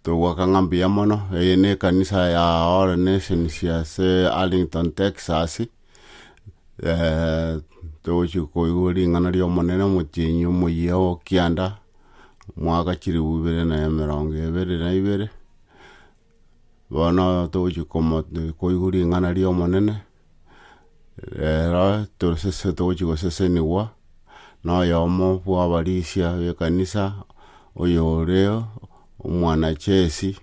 Togoaka ng'a mbuya mono, eye ne ekanisa ya All Nations ase Arlington, Texas, togochia koigwa ring'ana ri'Omonene omotienyi omoyia o kianda, mwaka chilifu ibere na emerongo ebere na ibere, bono togochia komo koigwa ring'ana ri'Omonene. Rero torosese togochia gosesenigwa noyomo bwabarisia bekanisa, oyore omwana chesi,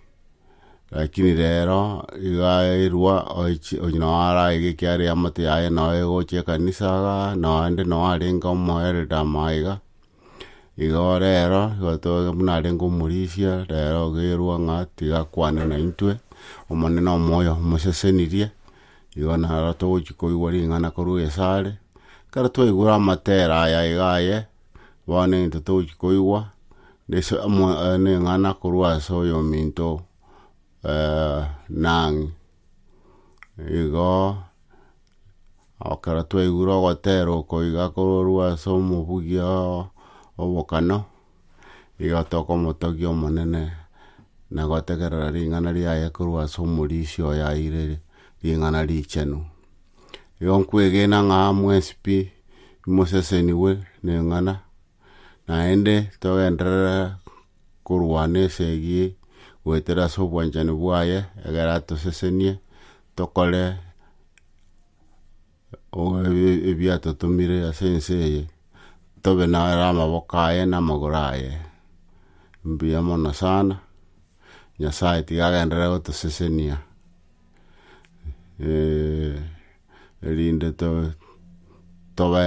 rakini rero iga erwa oichi onye noo araiga ekiagera eamate yaye noo egocha ekanisa igaa, naende noo arenge omoelda maiga. Igo rero, igo toigo buna arenge omorisia, rero ogerwa ng'a tiga akwane naintwe, Omonene omoyo omosesenirie, igo naro togochi koigwa ring'ana korwa esare, ekero twaigure amatera aya iga aye, bono egento togochi koigwa, nese amo neng'ana korwa ase oyominto nang'e Igo, ekero twaigure ogotera oko iga korwa ase omobugia oo obokano, igo tokomotogia Omonene, na gotegerera ring'ana riaye korwa ase omorisia oye aire ring'ana richenu. Igo nkwegena ng'a mwensi pi, imoseseniwe neng'ana, naende togenderere. korwa nesegi goetera ase obwanchani bwaye egere atosesenie tokore ebiatotomire ase ense eye tobe naro amaboko aye na amagoro aye. Mbuya mono sana Nyasaye tiga agenderere gotosesenia erinde tobe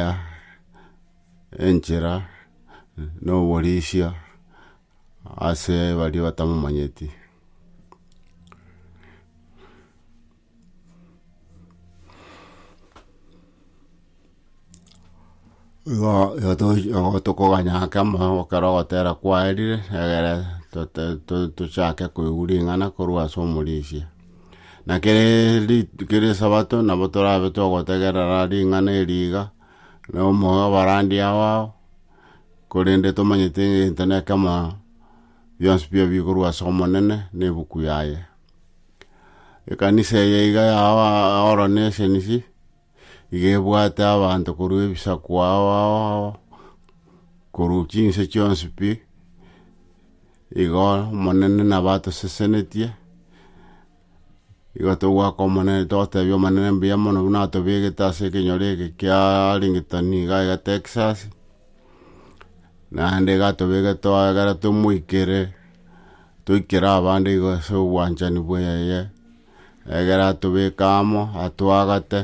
enchera, na oborisia ase baria batamomanyeti. Igo igo tochi igo tokoganya ake amaogo ekero ogotera kwaerire, egere tote- to- tochake koigwa ring'ana korwa ase omorisia. Na kere rit kere esabato nabo torabe togotegerera ring'ana erio iga. Nomoyo obarandi abao, korende tomanyete egento nekemo bionsi bire bikorwa ase Omonene ne ebuku yaye. Ekanisa eye iga yao oro ne esenisi, iga ebwate abanto korwa ebisaku ao ao ao, korwa chinse chionsi pi, igo Omonene nabo atosesenetie. Igo togwaka Omonene totebia Omonene mbuya mono buna atobegete ase ekenyoro eke kia Rington iga iga Texas, naende iga atobegete twagera tomoikere, toikere abande igo ase obwanchani bweye, egere atobeke amo, atwagate,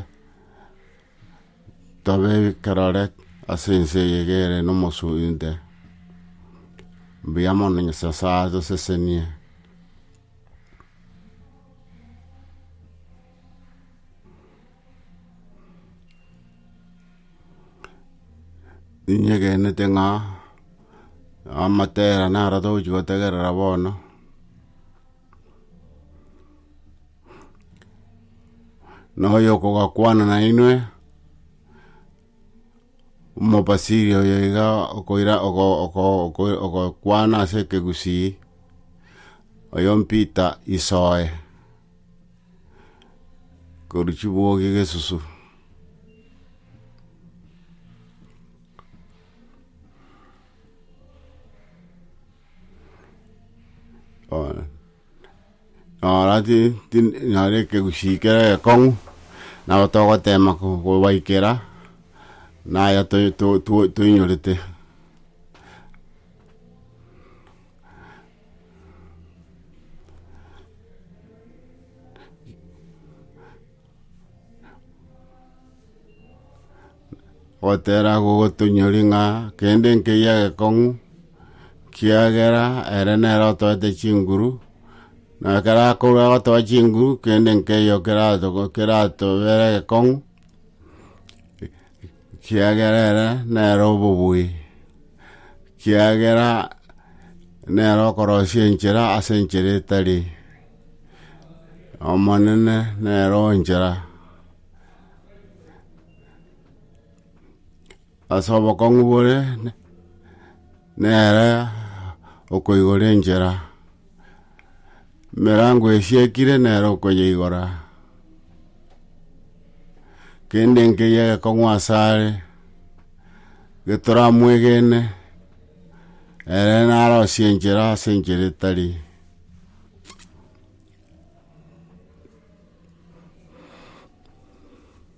Tobe ekerore ase ense eye egere nomosunte, mbuya mono Nyasae atosesenie. Ninyegenete ng'a amatera naro togochia gotegerera bono. na oyo okogakwana nainwe omobasiri oyo iga okoira oko- oko- oko- okokwana ase ekegusii oyo mpita isoe korwa chibuogi gesusu Bono nora ti ti naro ekegusii kere ekong'u, nabo togotema ko kobaikera naya toi to to toinyorete. gotera gogotonyori ng'a kende nkeyia gekong'u, kiagera ere nere otoete chinguru, na ekero akorwa agotoa chinguru, kende nkeyio keratogo keratobere gekong'u. Kiagera ere nere obobui, kiagera nere okorosia enchera ase enchera etari, Omonene nere onchera. Ase obokong'u bore. Nere okoigora enchera, emerango esiekire nere okoyeigora, kende nkeyio egekong'u asare getoramwegene, ere narosie enchera ase enchera etari.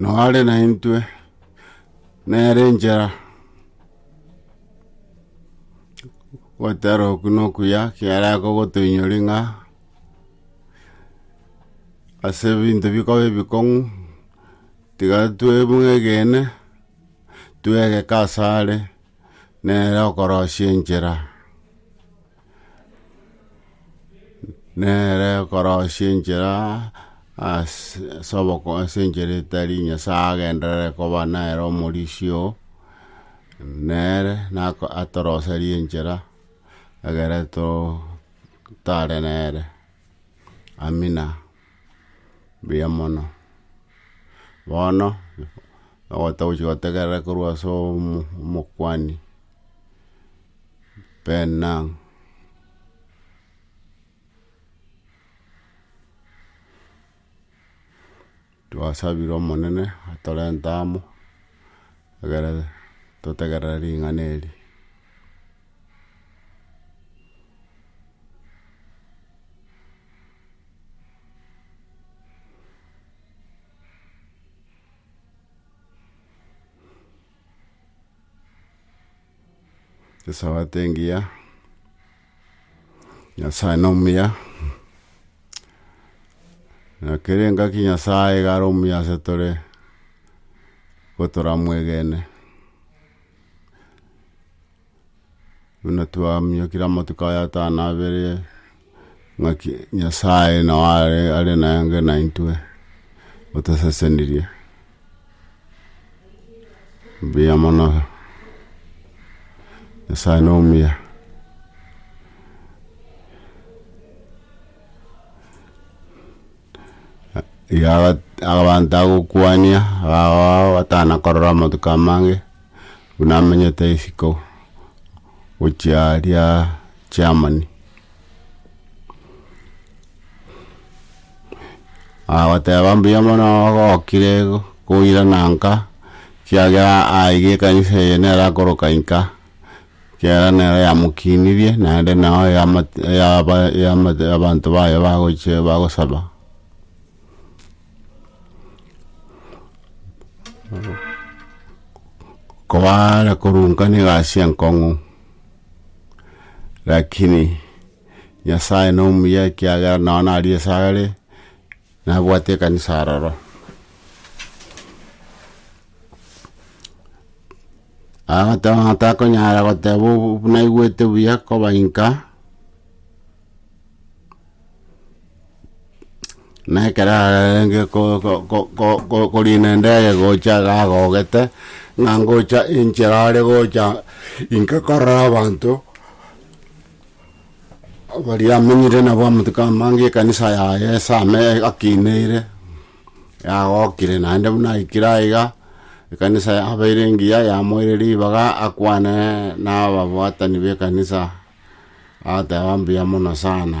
noare naintwe nere enchera gotera oku na okuya kiara akogotoinyori ng'a ase ebinto bikoba ebikong'u tiga twemwegene twegeka asare nere okorosia enchera. nere okorosia enchera ase ase oboko- ase enchera etari Nyasae agenderere koba nere omorisia oo, nere nako atoroserie enchera egere too tare nere. Amina, mbuya mono. Bono ogotogochi gotegerera korwa ase omo- omokuani. Benang. Twasabire Omonene atorente amo egere totegerere ring'ana eri. Esabato engiya, Nyasae nomuya, na kera engaki Nyasae iga are omuya ase tore, nigo toramwegene. Buna twamiokire amatuko aya atano abere. ng'aki Nyasae nao are are nenge naintwe, otosesenirie. Mbuya mono. Nyasae nomuya. Iga abanto agokwania agao atana korora amatuko amange buna amenyete isiko gochia aria Germany. Agoteba mbuya mono ogokire koirana nka ekiagera aiga ekanisa eye nero akoroka inka Ekiagera nero yamokinirie, naende nao eyamate eyaba eyamate abanto baye bagochia bagosaba. Kobare korunkana egasi enkong'u, rakini Nyasaye nomuya ekiagera nao naria ase are, nabwate ekanisa aroro. Agateba atakonyara goteba obu- buna aigwete buya koba inka, na ekero arenge ko- ko- ko- ko- ko- korina endege gocha iga agogete, ng'a ngocha enchera are gocha inka korora abanto, baria amenyire nabo amatuko amange ekanisa yaye ase ame akineire, Yagokire, naende buna aikire aiga, ekanisa yabeire engiya, yamoire ribaga akwane nababwatani b'ekanisa, agateba, Mbuya mono sana.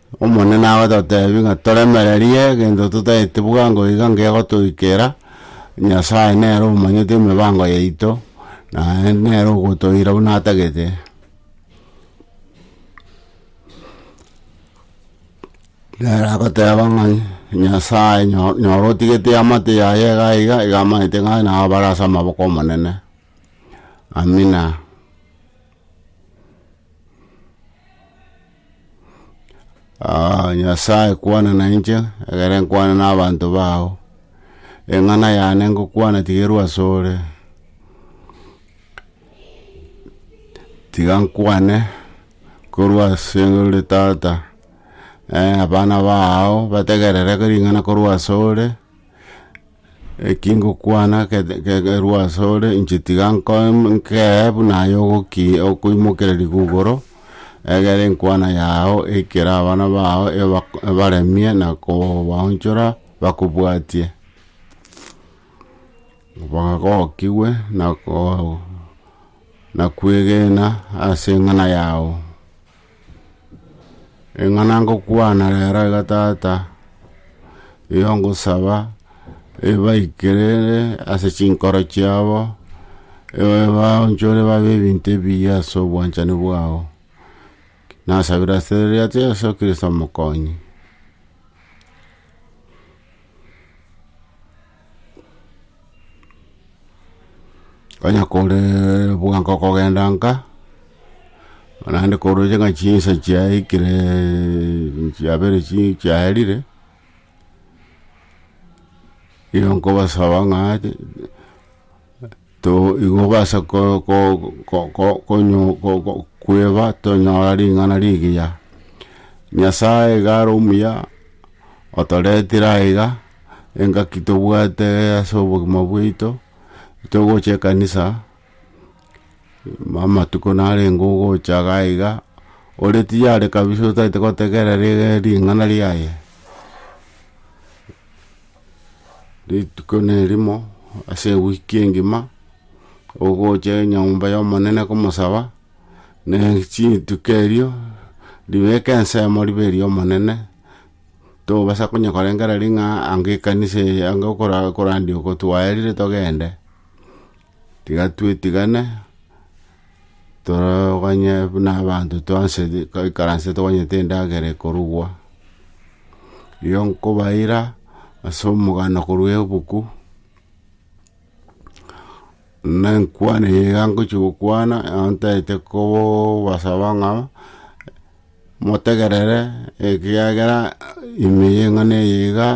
Omonene agototeebia ng'a toremererie egento totaeti bwango bwango iga ngegotoikera, Nyasae nere omanyete emibango yaito, naye nere ogotoira buna atagete. Nere agoteeba ng'a Nyasae nyo- nyora otigete eamate yaye iga iga iga amanyete ng'a nabo bare ase amaboko 'omonene, Amina. Ah, Nyasae kwana na inche, egere nkwane na abanto bao, eng'ana yane ngokwana tigerwa asore, tiga nkwane korwa ase ore tata, abana bao bategerere ring'ana korwa asore. Eki ngokwana kete kegerwa asore, inche tiga nkoe nkeye buna aye ogoki okoimokererigwa igoro, egere enkwana yago eikere abana bago eba ebaremie na kobaonchora bakobwatie. Bagokigwe na koo na kwegena ase eng'ana yago. Eng'ana ngokwana rero iga Tata, eyo ngosaba ebaikere ase chinkoro chiabo, ebaonchore babe ebinto ebiya ase obwanchani bwao. Nasabire ase erieta ria Yeso Kristo Omokonyi. Onye kore bwango okogenda nka, naende koroche ng'a chinsa chiaikire chiabere chii chiaerire, nigo nkobasaba ng'a. Tigokobasa kweba tonyora ring'ana rigiya. Nyasae iga are omuya, otoretire aiga, engaki tobwate ase obogima bwaito, togocha ekanisa, amatuko narenge ogocha iga iga, ore tiyare kabisa otagete gotegerera ring'ana riaye. Rituko nerimo ase ewiki engima, ogocha enyomba y'Omonene komosaba, ne chintuko erio ribeke ensemo ribe eri'Omonene, tobasa konya korengera ring'a ng'a anga ekanisa eye anga okora okorandia oko twaerire togende, tiga twetigane. Toroganye buna abanto twansete twaikaransete twanyete endagera ekorugwa, rirorio nkobaira ase omogano korwa ebuku, na enkwana eye iga ngochia gokwana nabo ntaete kobasaba ng'a motegerere ekiagera ime y'eng'ana eye iga,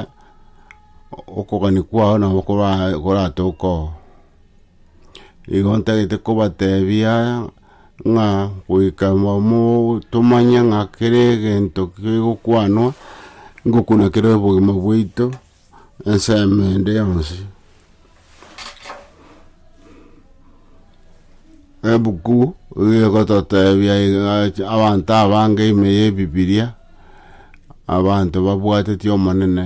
okogania kwao nabo kora koratoke oo. Igo ntagete kobateebia aya, ng'a goika momo- tomanye ng'a kera egento kegokwanwa, ngokuna kere obogima bwaito, ensemo ende yonsi. Ebuku iga egototebia iga- abanto abange ime ya ebibiria, abanto babwateti Omonene.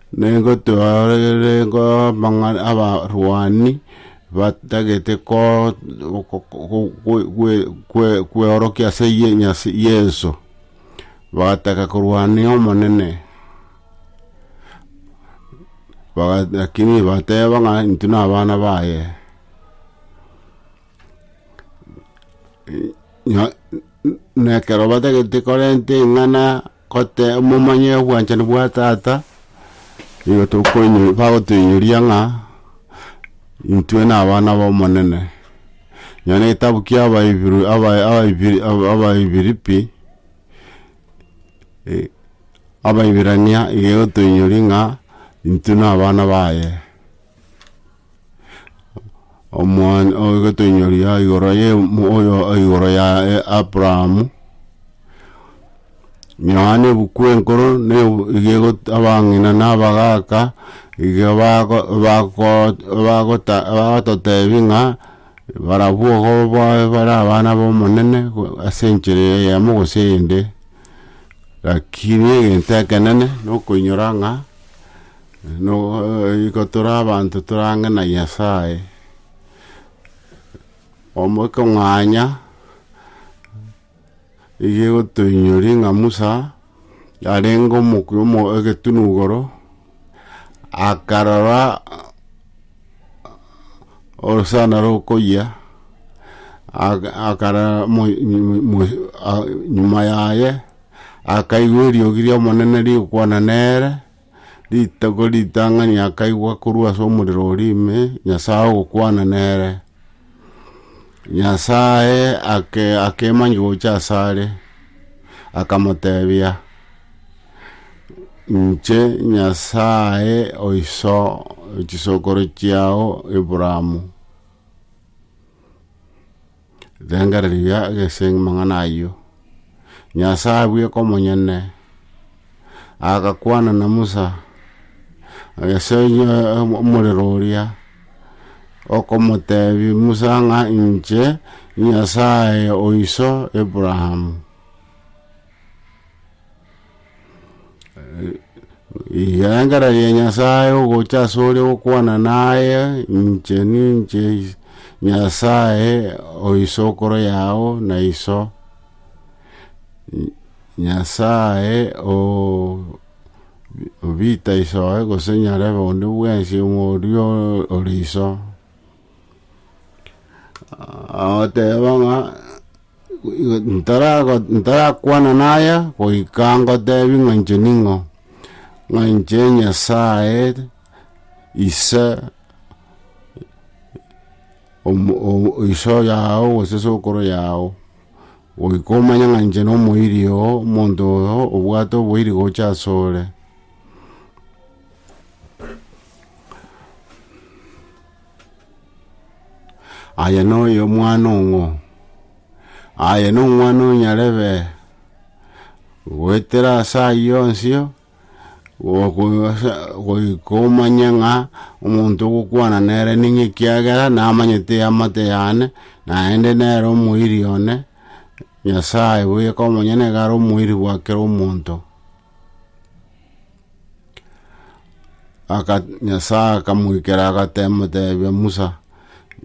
Nigotwarire amang'ana abarwani batagete ko- ko- ko- kwe- kwe- kwe- kweorokia ase ye Nyas- Yeso, bagataka korwania Omonene, baga- lakini bateba ng'a intwe nabana baye. Nya- na ekero batagete korenta eng'ana. Gote momanye obwanchani bwa Tata, nigo tokoinyo bagotoinyoria ng'a intwe nabana b'Omonene. Nonya na egetabu kia Abaibiri Aba- Abaibiri Aba- Abaibiripi Abaibirania iga egotoinyoria ng'a intwe nabana baye. omwan- o- egetenyoria igoro ye mo- oyo igoro ya e- Abrahamu, Yohana ebuku enkoro na ebu iga egot abang'ina na abagaaka iga bago bagoot bagota bagototebi ng'a barabwo igo bae bare abana ba Omonene go ase enchera eyemo gose eyende, lakini egento ekenene nokoinyora ng'a. Nigo tore abanto torange na Nyasae, omokong'anya iga egotoinyoria ng'a Musa arenge omokuya omo egetunu igoro, akarora orosana rokoyia, aka- akarora mo- mo- mo- nyuma yaye akaigwa eriogi ri'Omonene rigokwana nere. Rituko ritang'ani akaigwa korwa ase omorero oria ime Nyasae ogokwana nere. Nyasae ake akemanyi gocha asare, akamotebia, Inche Nyasae o iso chisokoro chiao Abraham. Rengereria gese amang'ana ayio. Nyasae bweka omonyene agakwana na Musa ase omorero oria, okomotebia Musa ng'a inche Nyasae o iso Abraham. Egeangera gia Nyasae ogocha asore gokwana naye, inche ninche Nyasae o isokoro yao na iso, Nyasae o bita isoe gose nyarebe onde bwensi omorio ore iso. Agoteba ng'a ntarago- ntarakwana naya goika ngotebi ng'a inche ning'o, ng'a inche Nyasaye ise omo- o- iso yao gose sokoro yao, goika omanye ng'a inche nomoiri oo, omonto oyo obwate oboiri gocha asore. Aye noyo omwana ong'o? Aye nomwana onyarebe goetera ase ayio onsio, goika omanye ng'a omonto ogokwana nere ning'o ekiagera namanyete eamate yane, naende nere omoiri one, Nyasaye boyeka omonyene niga are omoiri bwa kera omonto. Aka, Nyasae akamoikera agatebia Musa,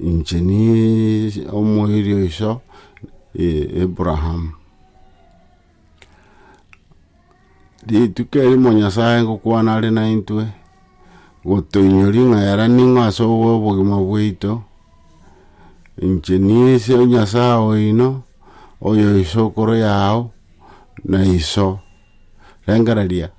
inche niiyi omoiri o iso Abraham. Rituko erimo Nyasae ngokwana are naintwe, gotoinyoria ng'a yara ning'o ase obogima bwaito, inche ninse Nyasae oino, oyo isokoro yao na iso, rengereria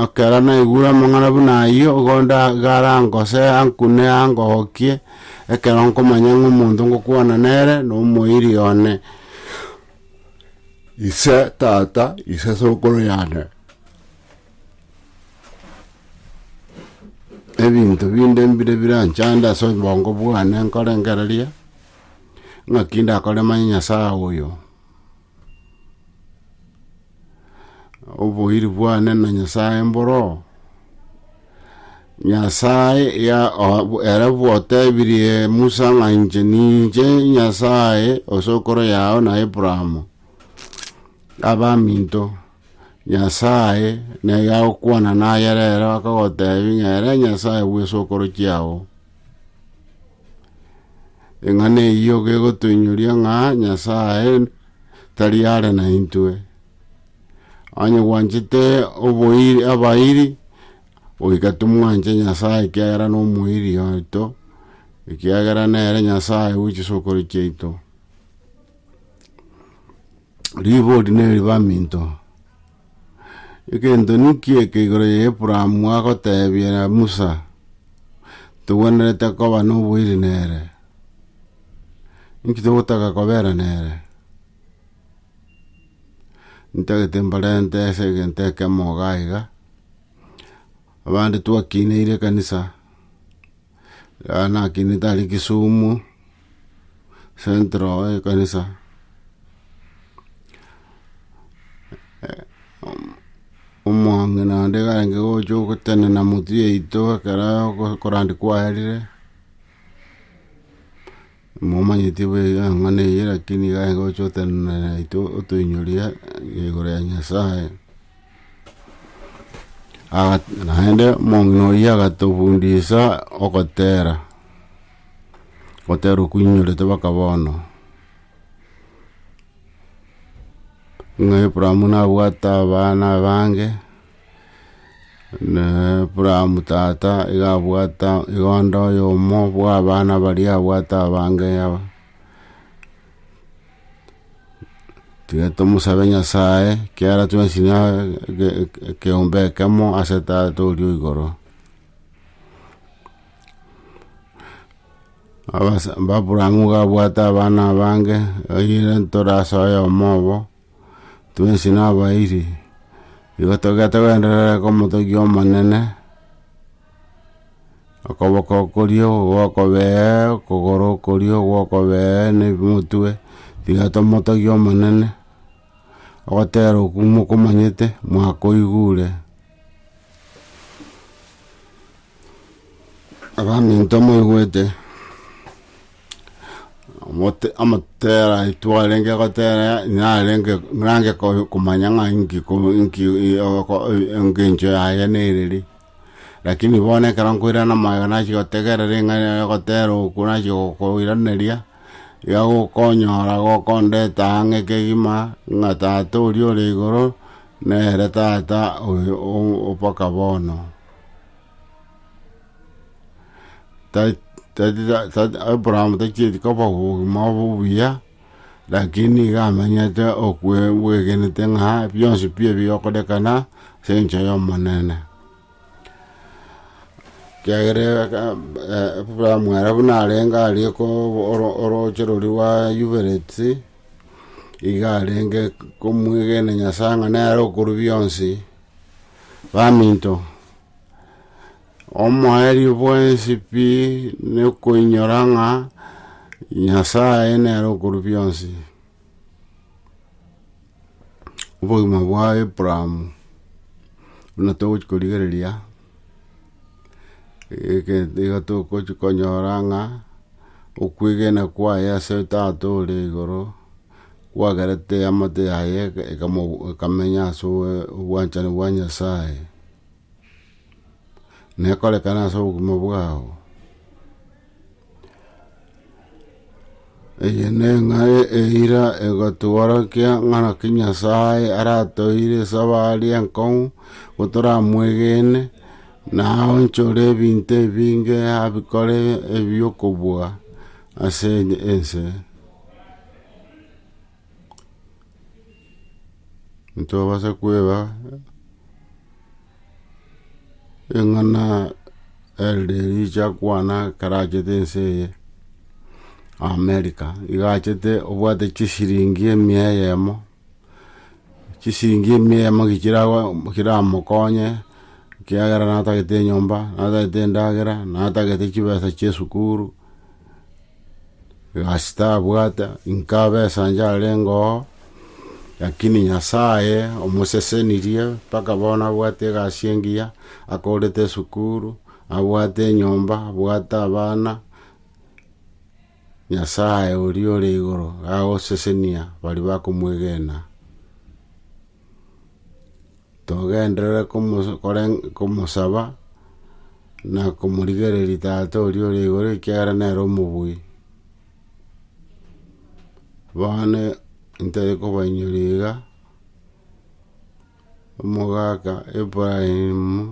ekero naigure amang'ana buna ayio, igo nda- garangose ankune angokie, ekero nkomanya ng'a omonto ngokwana nere, na omoiri one. Ise, tata, ise sokoro yane, ebinto binde mbire biranchande ase obongo bwane nkorengereria, ng'aki ndakore manye Nyasae oyo. Oboiri bwane na Nyasae mboroo? Nyasae ya- o- bo- ere bwatebirie Musa ng'a inche ninche Nyasae osokoro yao na Abrahamo, abaminto, Nyasae nere agokwana naye rero akagotebia ng'a ere Nyasae bw'esokoro chiao. Eng'ana eyio gegotoinyoria ng'a Nyasae tari are naintwe. Onye gwanchete oboiri abairi goika tomwanche Nyasae ekiagera nomoiri oito, ekiagera nere Nyasae we chisokoro chiaito. Ribori neribaminto. Egento ninki eke igoro ya Abrahamu agotebiera Musa, Togwenerete koba noboiri nere? Inki togotaka kobera nere? Ntagete mbarente ase egento ekemo iga iga, abande twakineire ekanisa. Yaya nakinete are Kisumu central ekanisa omong'ina naende karenge gocha ogotenena motwe yaito ekero korandi kwaerire. Momanyeti bw'eng'ana eye, lakini iga aye ngocha otenena naintwe otoinyoria igoro ya Nyasaye. Naende omong'ina oyio agatofundisa ogotera, ogotera okwo oinyorete mpaka bono. Ng'a Abraham nabwate abana abange. Na Abrahamu tata iga abwata iga onde oyomo bwa abana baria abwate abange aba. Tiga tomosabe Nyasaye ekiagera twensi na ekeombe ekemo ase tata oria o igoro. Abrahamu iga abwate abana abange, oyio ntorase oyomo obo. twensi nabairi, igo togete gwenderere komotogia Omonene, okoboko koria gokobee okogoro okoria ogokobee na omotwe, tiga tomotogie Omonene, ogotera okwo mokomanyete mwakoigure. Abaminto moigwete, omote- omotera aitwe arenge gotera narenge narange ko- komanya ng'a inki ko- inki oko- engencho yaye nere ri, lakini bono ekero nkoirana amabera nachia gotegerera ring'ana ere gotera oku nachia gokoiraneria, iga gokonyora gokondeta ang'e kegima ng'a tata oria ore igoro nere tata oyo o- o- mpaka bono. Ta- ta- ta- ta- abraham tachieti koba obogima obo obuya lakini iga amenyete okwe bwegenete ng'a bionsi pi ebi bigokorekana ase engencho y'omonene kiagera aka- eh abraham ere buna arenge aria ko oro- oroche roria rwa yubereti iga arenge komwegena nyasae ng'a nere okoru bionsi. Baminto, omoerio bwensi pi nekoinyora ng'a Nyasae nere okoru bionsi. Obogima bwa Abrahamu buna togochia korigereria, egento iga togochia konyora ng'a okwegena kwaye ase Tata ore igoro, gwagerete eamate yaye ekamenya ase obwanchani bwa Nyasaye, na ekorekane ase obogima bwao. Eye neng'ae eira egotworokia ng'a naki Nyasaye aratoire ase abare enkong'u gotoramwegene, na aonchore ebinto ebinge abikore ebiokobua ase ense. ntobasa kweba eng'ana elde ericha kwana ekarachete ense eye America iga achete obwate chisiringi emia eyemo chisiringi emia eyemo ki chiramokonye ekiagera natagete enyomba natagete endagera natagete chibesa chia esukuru. Ase tabwate inko abesa inche arengeo, lakini Nyasaye omosesenirie mpaka bono abwate egasi engiya, akorete esukuru, abwate enyomba, abwate abana, Nyasaye oria ore igoro agosesenia baria bakomwegena. togenderere komosaba na komorigereria Tata oria ore igoro ekiagera nere omobui. Bono ntari kobainyora iga, omogaka Ibrahimu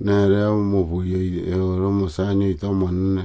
nere omobui oye ore omosani oito omonene.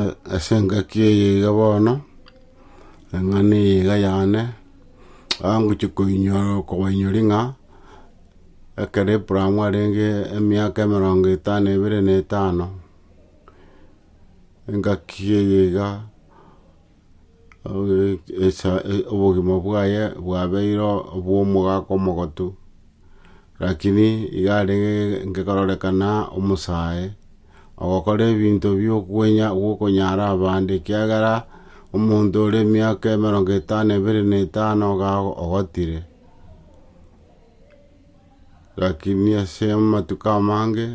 a- ase engaki eye iga bono, ring'ana eye iga yane, aa ngochia koinyora kobainyoria ng'a ekero Abraham arenge emiaka emerongo etano ebere na etano, engaki eye iga. obogima bwaye bwabeire obw'omogaka omogotu, rakini iga arenge ngerorekana omosae, ogokora ebinto biokwenya bw'okonyara abande, ekiagera omonto ore emiaka emerongo etano na ebere na etano iga ogotire. Lakini ase amatuko amange,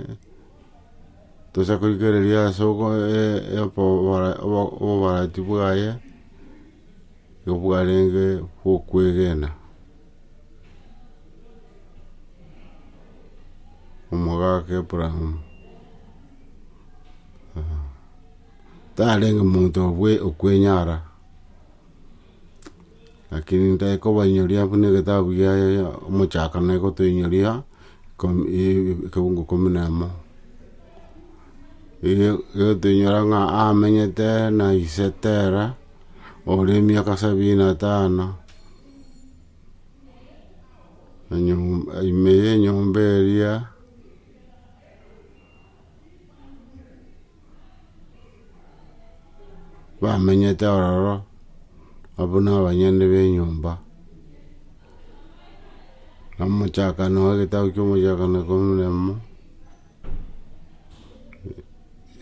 tosa koikereria ase obobarati bwaye, nigo bwarenge bwokwegena. Omogaka Abraham, tarenge monto okwenyara. Lakini ntai kobainyoria buna egetabu gia omochakano egotoinyoria ekegungu ikomi na emo. Egotoinyora ng'a amenyete na ise tera ore emiaka sabini na tano, ime ya enyomba eria. bamenyete ororo, abwo na abanyene b'enyomba, na omochakano oye getabu kia omochakano ikomi na emo,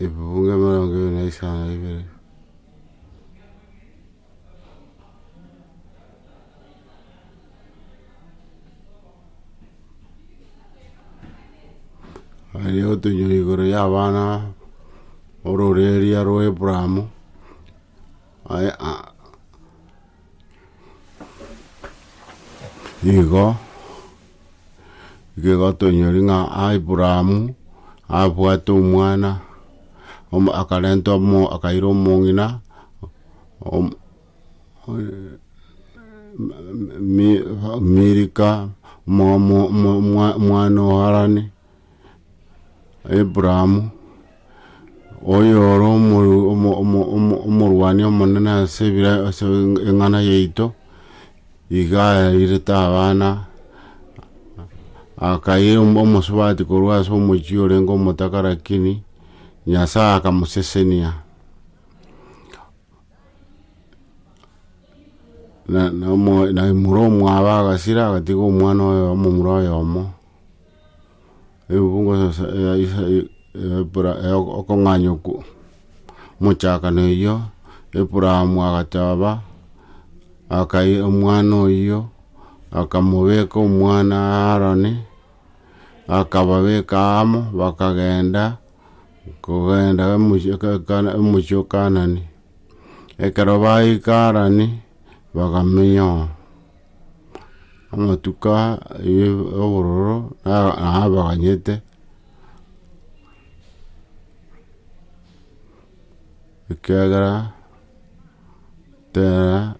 ebibuge emerongo ebere na isano na ibere. Aye otoinyore igoro y'abana b'ororeeria rwa Abrahamu, aye a- nigo. Igo tonyori ng'a Abrahamu abwate omwana, om- akarenta omo akaira omong'ina om- mi- Milika, mo- mo- mo- mwa- mwana o Harani. Abraham, oyore omoru- omo- omo- omo- omorwani omonene ase ebira- ase eng'ana yaito, iga airete abana, akaira omo- omosubati korwa ase omochie orenge omotaka lakini Nyasae akamosesenia. Na- na- omo- na imoro omwabo agasira agatiga omwana oyomo omomura oyomo. Ebukungo sasa ya Isa Ebra okong'anya oku mochakano eyio Abraham agateba akai omwana oyio akamobeka omwana Harani akababeka amo bakagenda kogenda emochie o Kanani ekero baika Harani bakamenya oo. amatuko aye obororo na- nabaganyete, ekiagera tera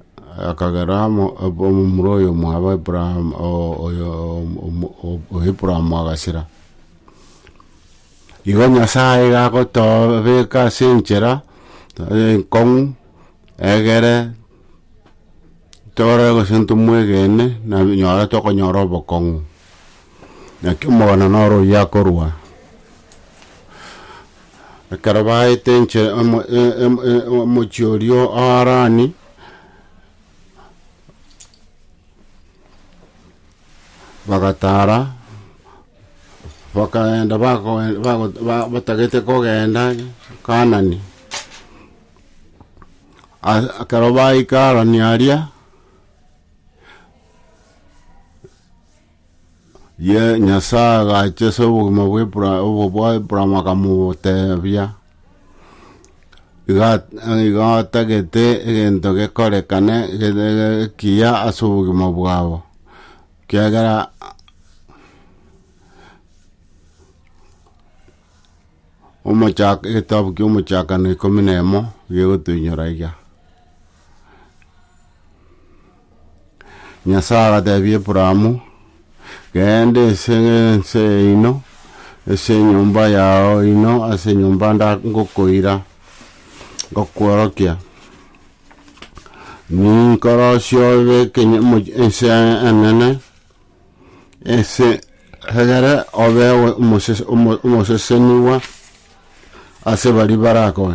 akagera amo abo- omomura oyo omwabo Abraham o- oyo omo- o- o- Abraham agasira. Igo Nyasaye iga agotoobeka ase enchera enkong'u egere. Torore gose ntomwegene na nyora tokonyora obokong'u. Naki omogano noro oyio akorua. Ekero baete enche emo emo omochie oria o Harani, bagatara, bakagenda bako bago batagete kogenda Kanani. Ase ekero baikarania aria, Ye- Nyasae agacha ase obogima bwa Ibra- obo bwa Abraham akamotebia, iga iga otagete egento gekorekane gete ekiya ase obogima bwabo, ekiagera. Omochak egetabu kia omochakano ikomi na emo gegotoinyora iga. Nyasae agatebia Abrahamu, genda ase ense yaino, ase enyomba yao ino, ase enyomba nda ngokoira, ngokworokia, ninkorosie obe ekeny- omoch- ense enene, Ase egere obe omosese- omo- omosesenigwa ase baria barakoe,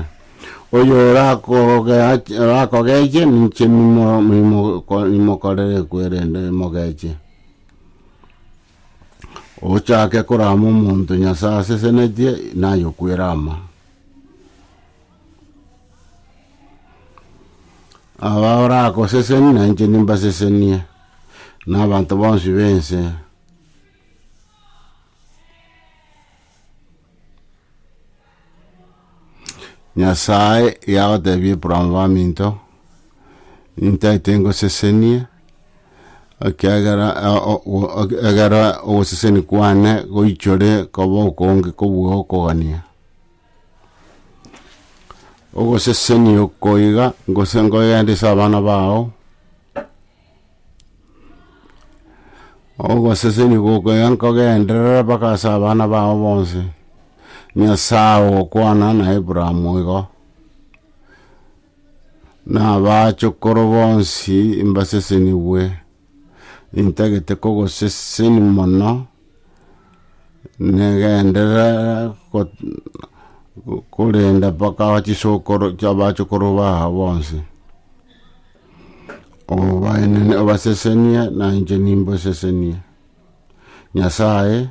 oyorakogea orakogeche ninche nimo- nimo- ko- nimokorere ekwerende mogeche. Ochake korama omonto Nyasae asesenetie, naye okwere ama. Aba oragoseseni na inche nimbasesenie, na abanto bonsi b'ense. Nyasae yagotebia Abraham baminto, nintaete ngosesenie, ekiagera egere ogoseseni kwane goichore koba okonge kobua okogania. Ogosesenia oko iga gose nkogenda ase abana bao, ogosesenia oko iga nkogenderera mpaka ase abana bao bonsi, Nyasaye ogokwana na Abraham igo, na abachokoro bonsi mbasesenigwe. intagete kogosesenia mono, negenderere korenda mpaka chisokoro abachokoro bao bonsi, obasesenie na inche nimbasesenie, Nyasaye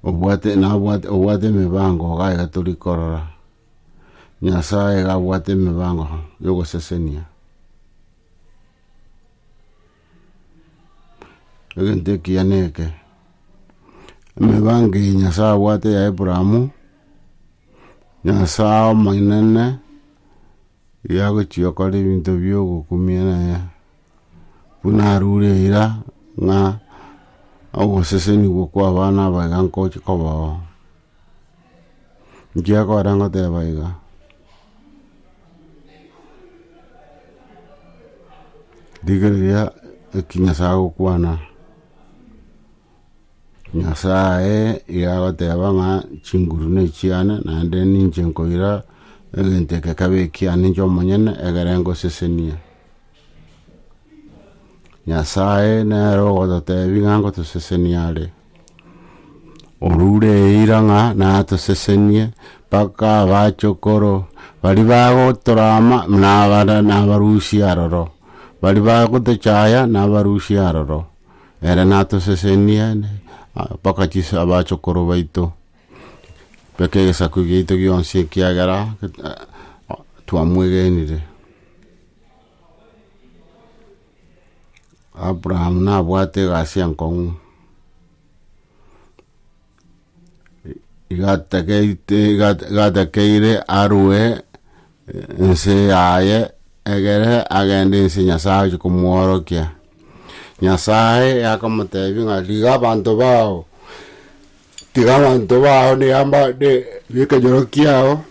obwate nabwate obwate emibango iga iga tori korora, Nyasaye iga abwate emibango ya ogosesenia. Egento ekiya neke, emebango eye Nyasae abwate ya Abrahamu, Nyasae omonene yagochia okora ebinto bia ogokumia naye, buna arure eira ng'a ogosesenigwa kwa abana abaye nkochi kobao. Inki akore ngoteba iga? Rigereria eki Nyasae agokwana, Nyasae iga agoteba ng'a chinguru nechiane naende ninche nkoira egento eke kebe ekiane inche omonyene ekere ngosesenie. Nyasae nere ogototebia ng'a ngotosesenia are. Orure eira ng'a natosesenie, mpaka abachokoro baria bagotorama nabarusia aroro, baria bagotochaya nabarusia aroro, ere natosesenie mpaka chisa abachokoro baito, mpaka egesaku giaito gionsi ekiagera twamwegenire. Abraham nabwate egasi enkong'u, igatekeire arue ense yaye egere agende ense Nyasae achi komworokia. Nyasae akamotebia ng'a rigia abanto bao, tiga abanto bao nekenyoro kiao,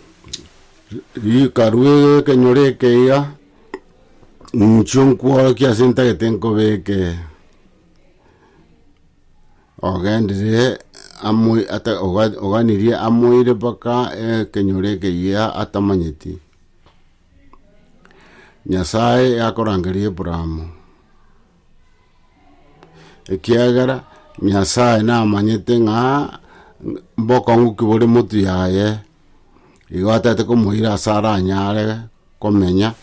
rika rue ekenyoro eke iga. Inchuo nkworokia ase ntagete nkobeke ogenderere amo ata oga- oganirie amoire mpaka ekenyoro ekeyia atamanyeti. Nyasaye yakorangeria Abrahamo, ekiagera Nyasaye namanyete ng'a mbokong'u ki bore motu yaye. Igo atete komoira ase aranyare komenya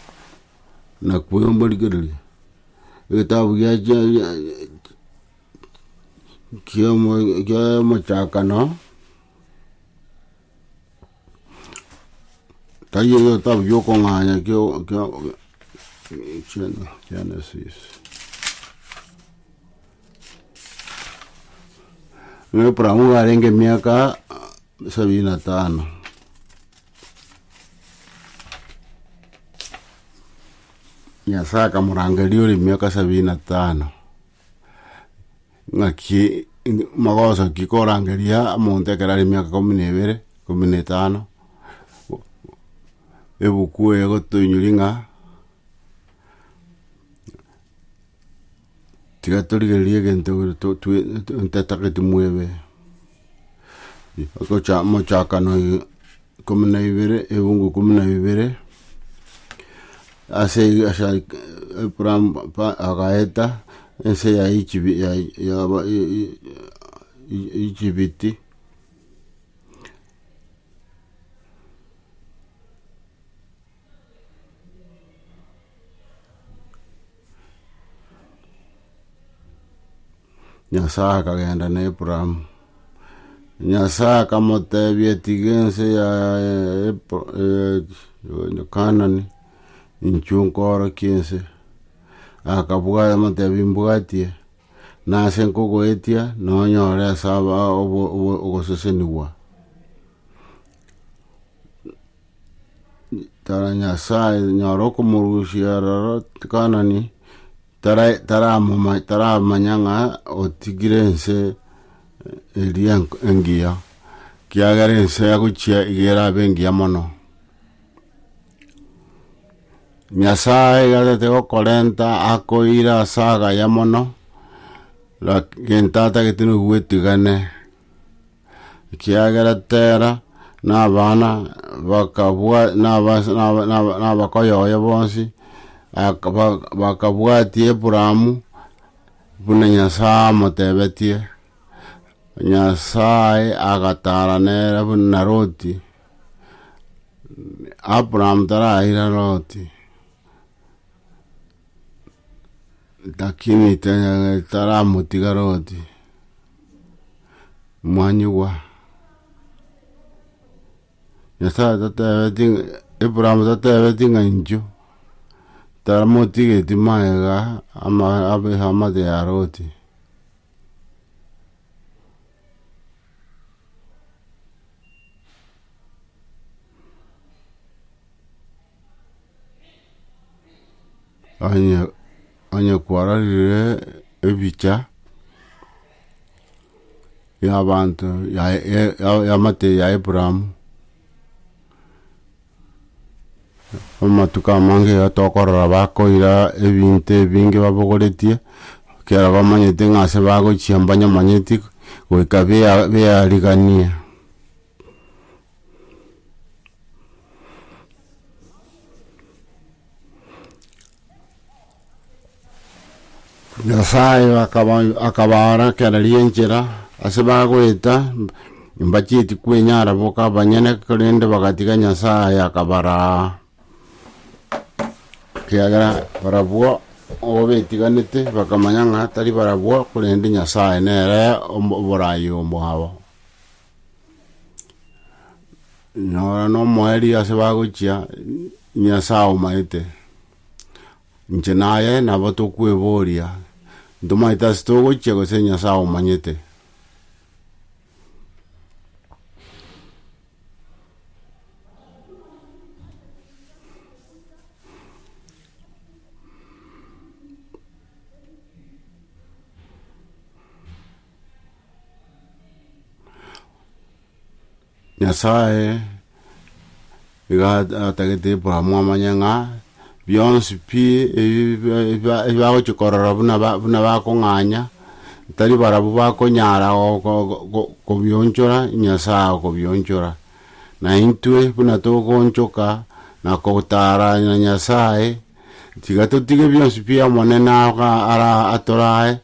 na kwemorigereria. Egetabu gia kia omochakano, tari egetabu kia okong'anya kia Genesis. Ng'a Abrahamu nigo arenge emiaka. sabini na tano. Nyasae akamorangeria ore emiaka sabini na tano ng'aki magoso ki korangeria omonto ekero are emiaka ikomi na ebere ikomi na etano ebuku eye egotoinyoria ng'a Tiga torigererie egento ntatageti mwebe, ogocha mochakano eye ikomi na ibere ebungu ikomi na ibere, ase eyio agaeta ense ya Echibiti, Nyasae akagenda na Abraham. Nyasae akamotebia tiga ense ya Ep- eh, ya Kanani inchwe nkoorokia ense. Akabua amotebia mbwatie, nase nkogoetia nonyore ase aba obo- obo- ogosesenigwa. Tara Nyasae nyora okomorusia aroro Kanani tara taramoma taramanya ng'a otigire ense eh, eria enk- engiya, kiagera ense agochia iga erabe engiya mono. Nyasae iga tete gokorenta akoira ase agaya mono, laki gento atagete nonya goetigane. ekiagera Tera nabana bakabua naba naba naba nabakoyoyo bonsi aka- ba- bakabuatia Abrahamu buna Nyasaye amotebetie, Nyasaye agatara nere buna Loti, Abraham taraira Loti, lakini taramotiga Loti. mwanyigwa. Nyasae tatebeti Abraham tatebeti ng'a inchuo, taramotigeti magega ama abe amate ya Loti. Onye, onye kwarorire ebicha y'abanto ya, ya, ya- y'amate ya Abrahamu, amatuko amange iga tokorora bakoira ebinto ebinge babogoretie, ekero bamanyete ng'a ase bagochia mbanyamanyeti, goika bea- bearigania. nyasaye akaba- akabaara kera rienchera ase bagoeta mbacheti kwenyara boka banyene korende bagatiga nyasaye akabaraa ekiagera barabwo obabetiganete bakamanya ng'a tari barabwo korende nyasaye nere omo- oborayi omoao Nora nomoeri ase bagochia Nyasaye aomaete. Inche naye nabo tokweboria ntomaete ase togochia gose Nyasaye aomanyete. Nyasae iga atagete Abrahamu amanye ng'a bionsi pi ebibagochia korora buna bakong'anya tari barabwo bakonyara kobionchora Nyasae akobionchora, naintwe buna togoonchoka na kotara Nyasae. Tiga totige bionsi bi'Omonene aa ara atorae,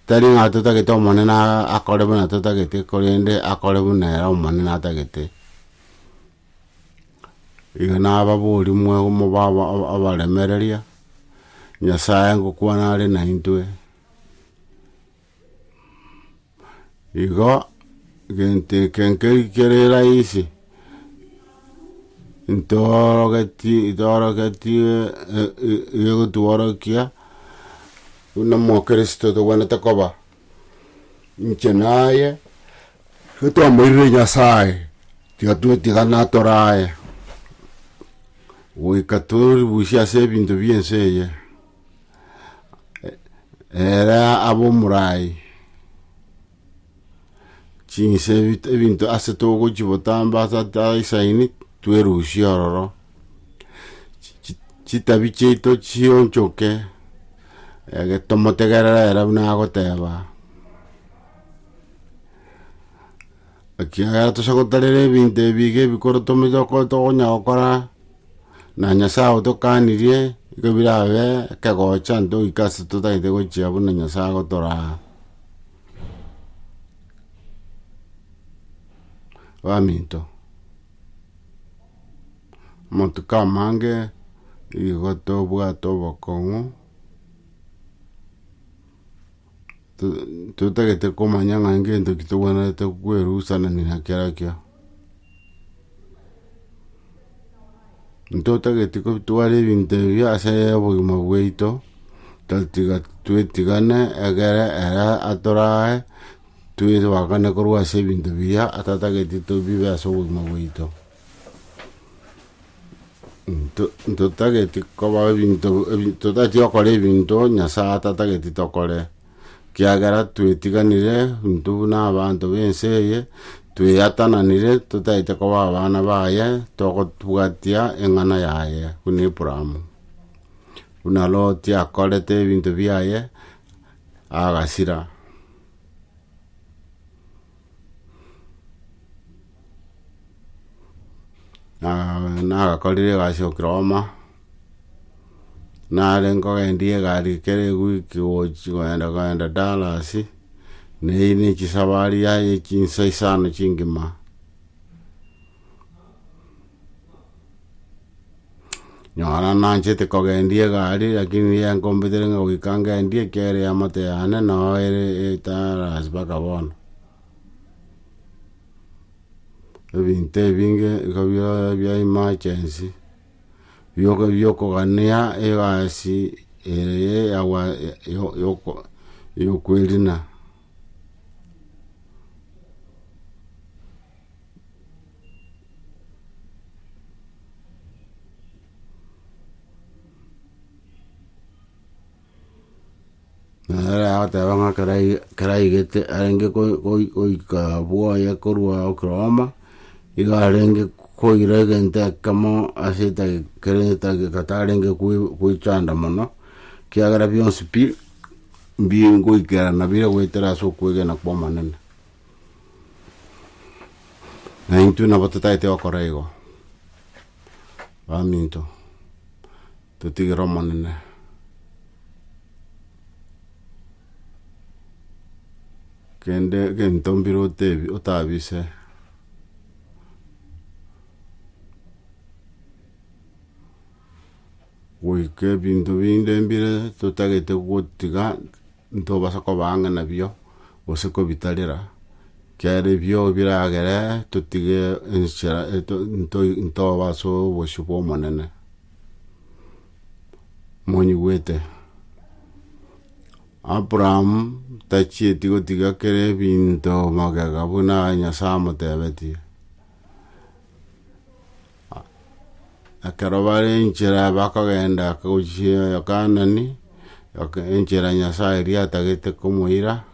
tari ng'a totagete Omonene akore buna totagete, korende akore buna ere Omonene atagete. Iga nababorie mwe mobe abaremereria, Nyasae ngokwana are naintwe. Igo gento eke nkeri kere raisi, ntoorogeti ntoorogetie e- e- egotworokia buna omokristo tobwenerete koba, inche naye getwamoirire Nyasaye, tiga twetigana tore aye, goika tori buya ase ebinto bia ense eye. Ere abomorai chinse ebit- ebinto ase togochi botamba ase ata isaini twerusie ororo Chi- chi- chitabi chiaito chionchoke ege tomotegerere ere buna agoteba. Ekiagera tosagotarera ebinto ebi iga ebikoro tomechoka tokonya gokora, na Nyasae otokanirie, igo birabe ekegocho ante goika ase totagete gochia buna Nyasae agotoraa. Baminto, amatuko amange nigo tobwate obokong'u, totagete komanya ng'a ngento ki togwenerete kwerusanania na kerakio. Ntotageti kotwara ebinto ebi ase obogima bwaito, totiga twetigane egere ere atorae twebakane korwa ase ebinto biya atatageti tobibe ase obogima bwaito. Ntotageti koba ebinto ebi totageti gokora ebinto Nyasaye atatageti tokore, kiagera twetiganire intwe buna abanto b'ense eye, tweatananire totagete koba abana baye, togotobwatia eng'ana yaye buna Abraham. Buna Loti akorete ebinto biaye agasira. na nagakorire egasi okira omo, nare nkogendia egari kera ewiki gochi kogenda kogenda Dallas, neyio ne chisafari yaye chinsa isano chingima. Nonya nanchete kogendia egari, rakini riria nkombetire ng'a goika ngendie ekero ya amato yane nao ere etarasi mpaka bono. Ebinto ebinge iga bia bia emergency, bia ogo bia okogania egasi eye ya gwa yoko yokoerina. Nere agoteba ng'a ekero ai- ekero aigete arenge goi- goi- goika bwoye korwa oklahoma, igo arenge koira egento ekemo ase etagi kere etagi gatarenge goi- goichanda mono, ekiagera bionsi pi, mbi ngoikerana bire goetera ase okwegena kwa omonene. Na intwe nabo totaete gokora igo, baminto, totigere Omonene kende egento mbire otebi- otabise goika ebinto binde mbire totagete gotiga. Ntobasa kobaa ng'a nabio, gose kobitarera, kiagera ebio biragere totige enchera ntobe ase obosio bw'Omonene. Monyigwete? Abraham tachieti gotiga kera ebinto magega buna Nyasae amotebetie. Ekero bare enchera bakogenda gochia Kanani, enchera Nyasae eria atagete komoira,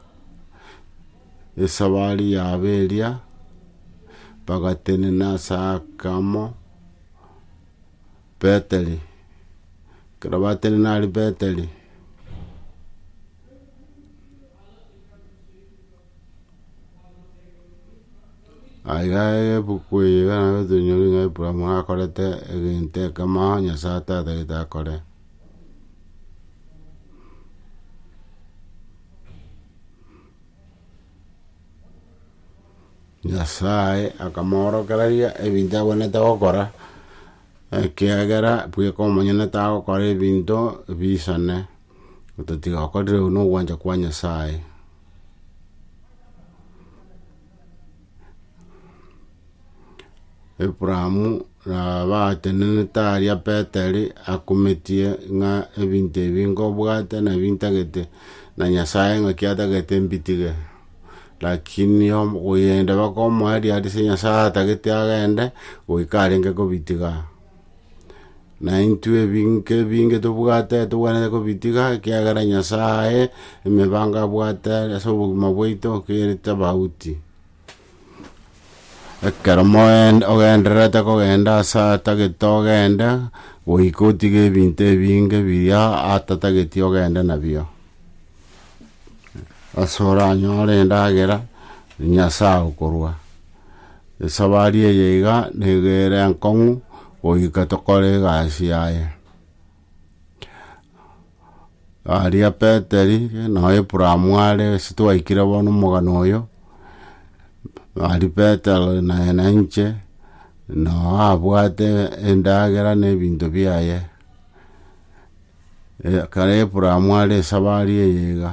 esabari yabo eria, bagatenena ase ake amo Betheli, ekero batenena aria Betheli. Aye aye ebuku eye iga nabo tonyore ng'a Abrahamu akorete egento ekemo aa Nyasae atatagete akore. Nyasae akamoorokeraria ebinto abwenerete gokora, ekiagera bweka omonyene tagokora ebinto bisane. Ototiga okorire uwe nogwancha kwa Nyasaye. Abraham nabatenenete aria Peteri akometie ng'a ebinto ebi nkobwate nabi ntagete na Nyasaye ng'aki atagete mbitige. Lakini oyende bakomoeria ase Nyasaye atagete agende, goika arenge kobitiga. Na intwe ebinke ebinge tobwate togwenerete kobitiga, ekiagera Nyasae emebango abwate ase obogima bwaito kere tobauti. Ekero moen- ogendererete kogenda ase atagete ogende, goika otige ebinto ebinge biria atatageti ogende nabio, ase oranyore endagera Nyasae okorua. Esabari eye iga nigo ere enkong'u goika tokore egasi yaye. Aria Peteri noyo Aburaamu are ase twaikire bono omogano oyo, aria Petero naye na inche noo abwate endagera na ebinto biaye. Ekero Aburaamu are esabari eye iga.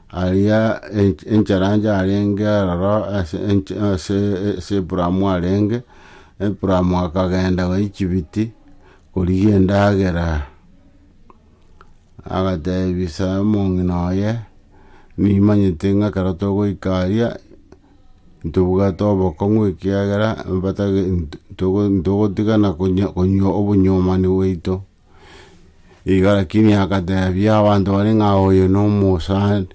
Aria encharaancha arenge aroro ase Ibrahimu arenge, Ibrahimu akagenda Echibiti korigia endagera. Agateebisa omong'ina oye, Nimanyete ng'a ekero togoika aria, ntobwate obokong'u ekiagera ntogotigana konywa obonyuomani bwaito. Iga lakini agateebia abanto baria ng'a oyo nomosani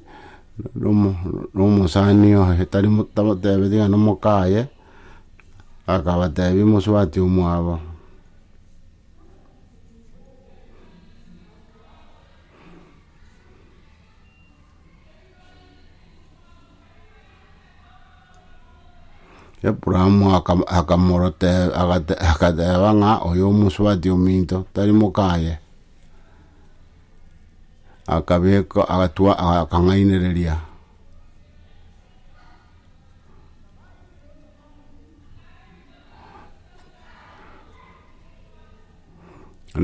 nomosani oye tari tabateebeti ng'a nomoka aye, akabateebia mosubati omwabo, Abrahamu akam- akamorote- agate- agateba ng'a oyo omosubati ominto tari mokaye, akabeka agatwa akang'ainereria.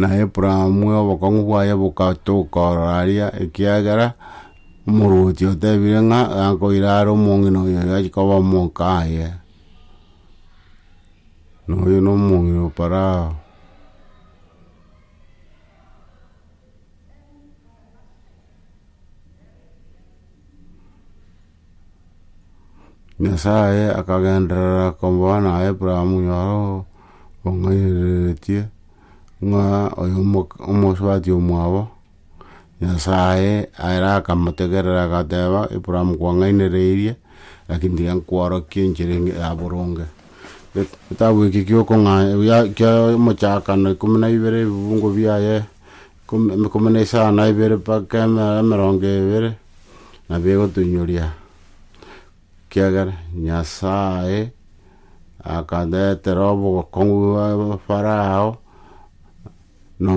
Na Abrahamu obokong'u bwaye bogatuka oro aria, ekiagera omorwoti otebire ng'a gakoira are omong'ina oyo achi koba omoka aye. Na oyo na omong'ina o Farao. Nyasae akagenderera kombaa na Abraham oro ong'ainereretie, ng'a oyo omosubati omwabo, Nyasae ere akamotegerera agateba, Abraham kwang'ainereirie, lakini tiga nkworokie enchera eye ya boronge. Eketabu eke kia omochakano ikomi na ibere ebibugu biaye. Ikomi na isano na ibere mpaka emerongo ebere nabo egotoinyoria, ekiagera Nyasae akaretera obogokong'u bwa Farao na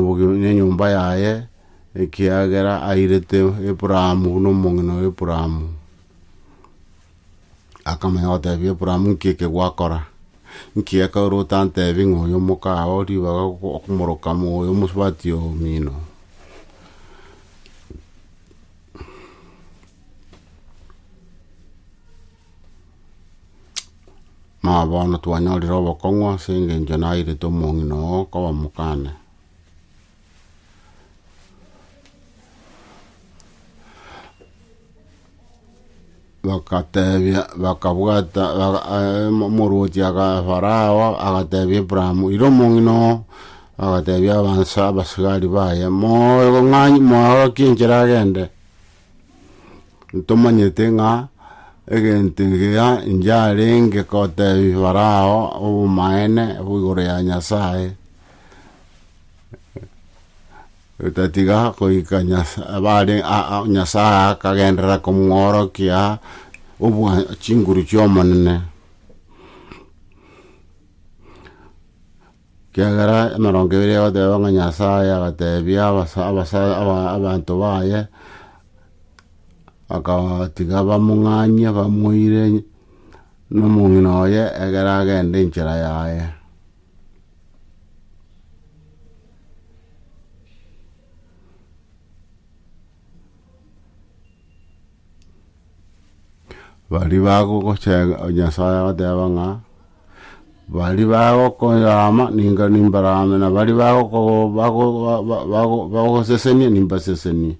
enyomba yaye, ekiagera airete Aburaamu buna omong'ina o Aburaamu. Akamanya gotebia Abraham, Nki eke gwakora? Nki gekaure otantebi ng'a oyo omokao ribaga okomoroka moyo omosubati omino? Mama bono twanyorire obokong'u ase engencho nairetwe omong'ina oo koba mokane. Bakateebia, bakabwata, baka- eh, mo- omorwoti aka- Farao agateebia Abrahamu, Ira omong'ina oo, agateebia abanso abasigari baye, Moe ng'a moorokie enchera agende, ntomanyete ng'a egento egiya inche arenge koteebia Farao obomaene igoro ya Nyasaye. Otatiga goika bare Nyasae akagenderera komworokia obwa chinguru chi'Omonene. Ekiagera emerongo ebere egoteba ng'a Nyasae agatebia abanto baye, akabatiga bamong'anyie bamoire nomong'ina oye ekero agenda enchera yaye. Baria bagogochega Nyasae agateba ng'a baria bagokoyama ninga nimbarame na baria bagogo- bago- ba- ba- bago- bagosesenia nimbasesenie.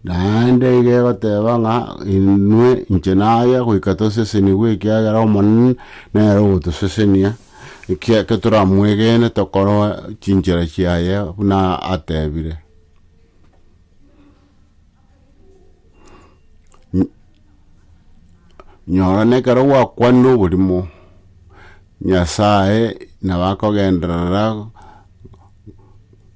Naende iga egoteba ng'a inwe inche naya goika tosesenigwe ekiagera Omonene nere ogotosesenia, ekiagera toramwegene tokorwa chinchera chiaye buna atebire. Nyora nekero gwakwanire oborimo, Nyasaye nabo akogenderera.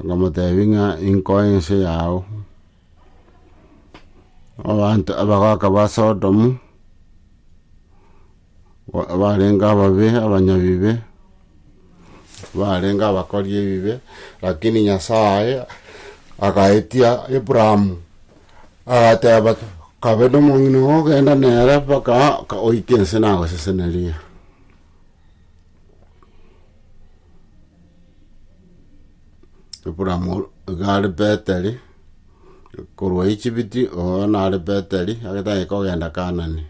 Akamoteebia ng'a inkoe ense yao. Abanto abagaaka ba Sodomu, ba- abarenge ababe abanyabibe, barenge abakori ebibe, lakini Nyasaye agaetia Abrahamu, agateeba kabe nomong'ina ogo ogenda nere mpaka oike ense nagoseseneria. Abrahamu iga are Betheli, korwa Echibiti oo nare Betheli agataka kogenda Kaanani.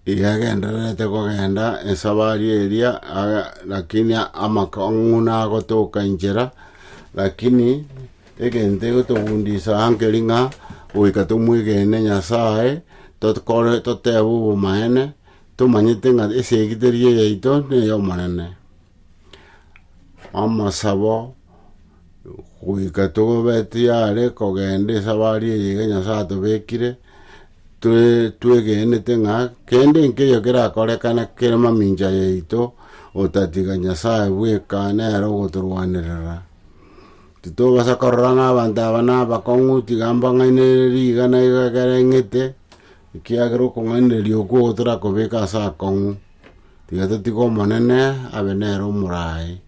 Yagendererete kogenda esabari eria, aga- lakini amakong'u nagotoka inchera, lakini egento egotogundisa aa nkeri ng'a goika tomwegene Nyasaye, tokore totebe obomaene, tomanyete ng'a esegi teri eyaito, ney'Omonene. Amasabo. goika togobeti are kogenda esabari eye iga Nyasae atobekire, toe- twegenete ng'a kende nkeiyo kerakorekana kere mamincha yaito, otatiga Nyasae bweka nere ogotorwanerera. Titobasa korora ng'a abanto aba na abakong'u tiga mbang'ainereria iga na iga ekero eng'ete, ekiagera okong'ainereria okwo gotorakobeka ase akong'u, tiga totige Omonene abe nere omoraai.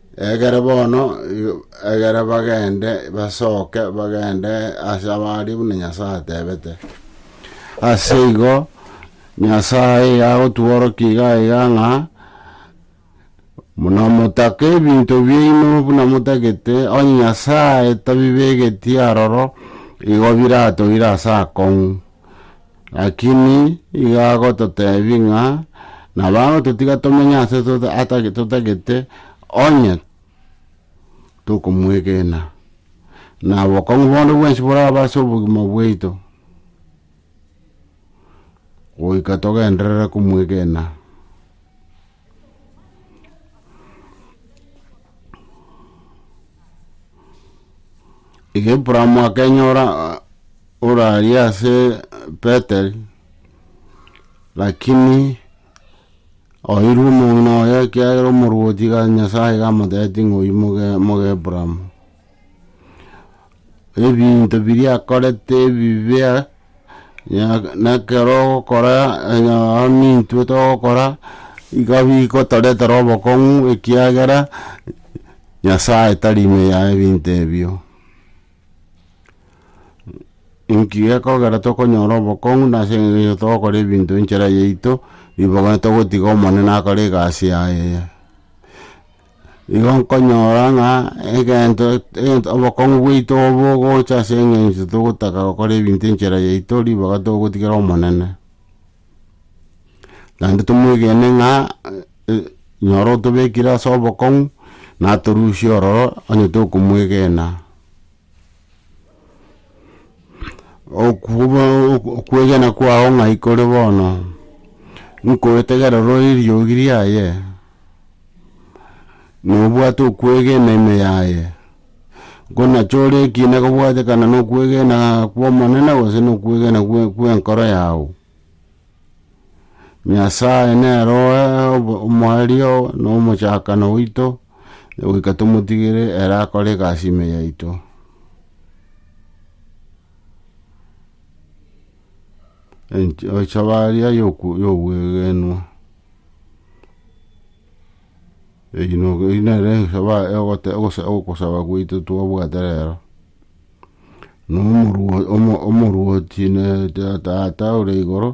Ekere bono, ekere bagende, basoke bagende ase abaaria buna Nyasae atebete. Ase igo, Nyasae iga agotworokia iga iga ng'a, Buna motaka ebinto biaino buna motagete, onye Nyasae tabibegetie aroro, igo biratoire ase akong'u. Lakini igo agototebi ng'a nabo agototiga tomenye ase tota- atag- totagete onye tokomwegena, na obokong'u bonde bwensi borabe ase obogima bwaito, goika togenderere komwegena. Iga Abraham akenyora ah, orari ase Beteli, lakini oirwe omong'ina oye ekiagera omorwoti iga Nyasaye iga amotebeti ng'a oyio moge moge Abraham. ebinto biria akorete ebibe, na- na ekero ogokora onye nonya nintwe togokora, iga bigotoretera obokong'u ekiagera Nyasaye tari ime ya ebinto ebio. Inki gekogera tokonyora obokong'u nase engencho togokora ebinto enchera yaito, ribaga togotiga Omonene akore egasi yaye eye. Igo nkonyora ng'a egento, egento obokong'u bwaito bogocha ase eng'encho togotaka gokora ebinto enchera yaito ribaga togotigera Omonene. Naende tomwegene ng'a nyora otobekire ase obokong'u, natorusie ororo onye tokomwegena. okwegena kwao ng'ai kore bono, nkoetegera orore eriogi riaye, na obwate okwegena ime yaye, buna chore ekina kobwatekana na okwegena kw'Omonene gose na okwegena kw'enkoro yao. Nyasae nere oe omoerio na omochakano oito, goika tomotigere ere akore egasi ime yaito. Enchobaaria y'ogwegenwa. Eyio nere ogosaba gwaito twabwate rero. Omorwoti Tata ore igoro,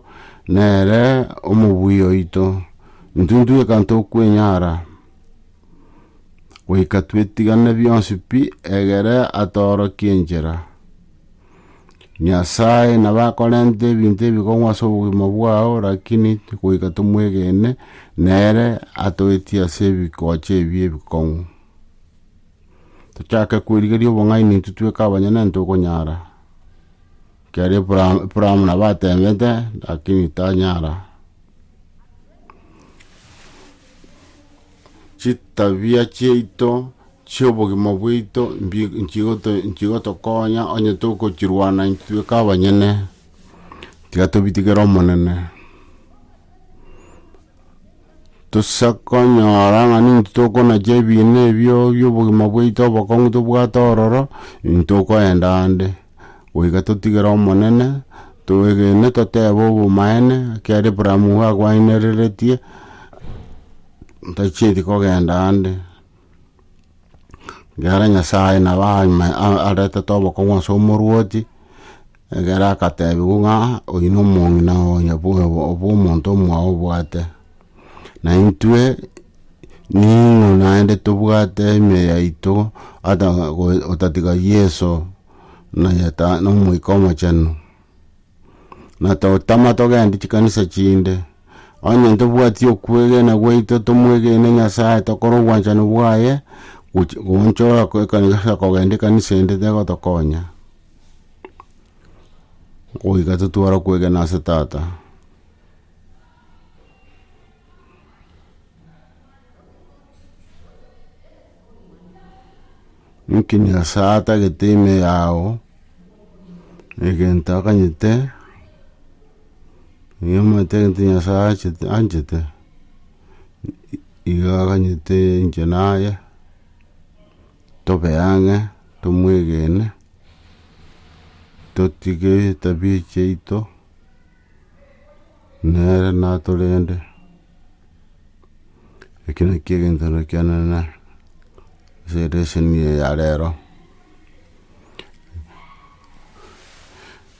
nere omobui oito, intwe intwe ekero tokwenyara goika twetigane bionsi pi, egere atoorokie enchera. Nyasaye nabo akorenta ebinto ebikong'u ase obogima bwao lakini goika tomwegene, nere atoetie ase ebikoche ebi ebikong'u. Tochake kwerigeria obong'aini intwe tweka abanyene ntokonyara. Ekiagera Abraham, Abraham nabo atemete lakini tanyara. Chitabia chiaito chiobogima bwaito mbi- nchigoto- nchigotokonya onye tokochirwana intwe tweka abanyene tiga tobitigere Omonene. Tosa konyora ng'a ninki tokonacha ebiina ebio bi'obogima bwaito obokong'u tobwate ororo, ntokoenda ande, goika totigere Omonene, twegene totebe obomaene, ekero Abraham igo akwainereretie, ntachieti kogenda ande. Egere Nyasae nabo aime- a- aretete obokong'u ase omorwoti, egere akatebiwa ng'a oyio na omong'ina onya bwa- bwa- bw'omonto omwao obwate. Naintwe ning'o naende tobwate ime yaito ata goe otatiga Yeso, nonya ta- na Omoika Omochenu. na totama togende chikanisa chinde. Onye ntobwati okwegena gwaito tomwegene Nyasae tokore obwanchani bwaye goch- goonchora ko- ekanisa kogenda ekanisa ende tegotokonya. Goika totware okwegena ase tata. Inki Nyasae atagete ime yao? Egento akanyete, nigo omanyete egento Nyasae achete anchete, igo aganyete inche naye, tobe ang'e, tomwegene, totige etabia chiaito. Nere natorende, eke nakio egenchero kianene ase eleseni eye ya rero,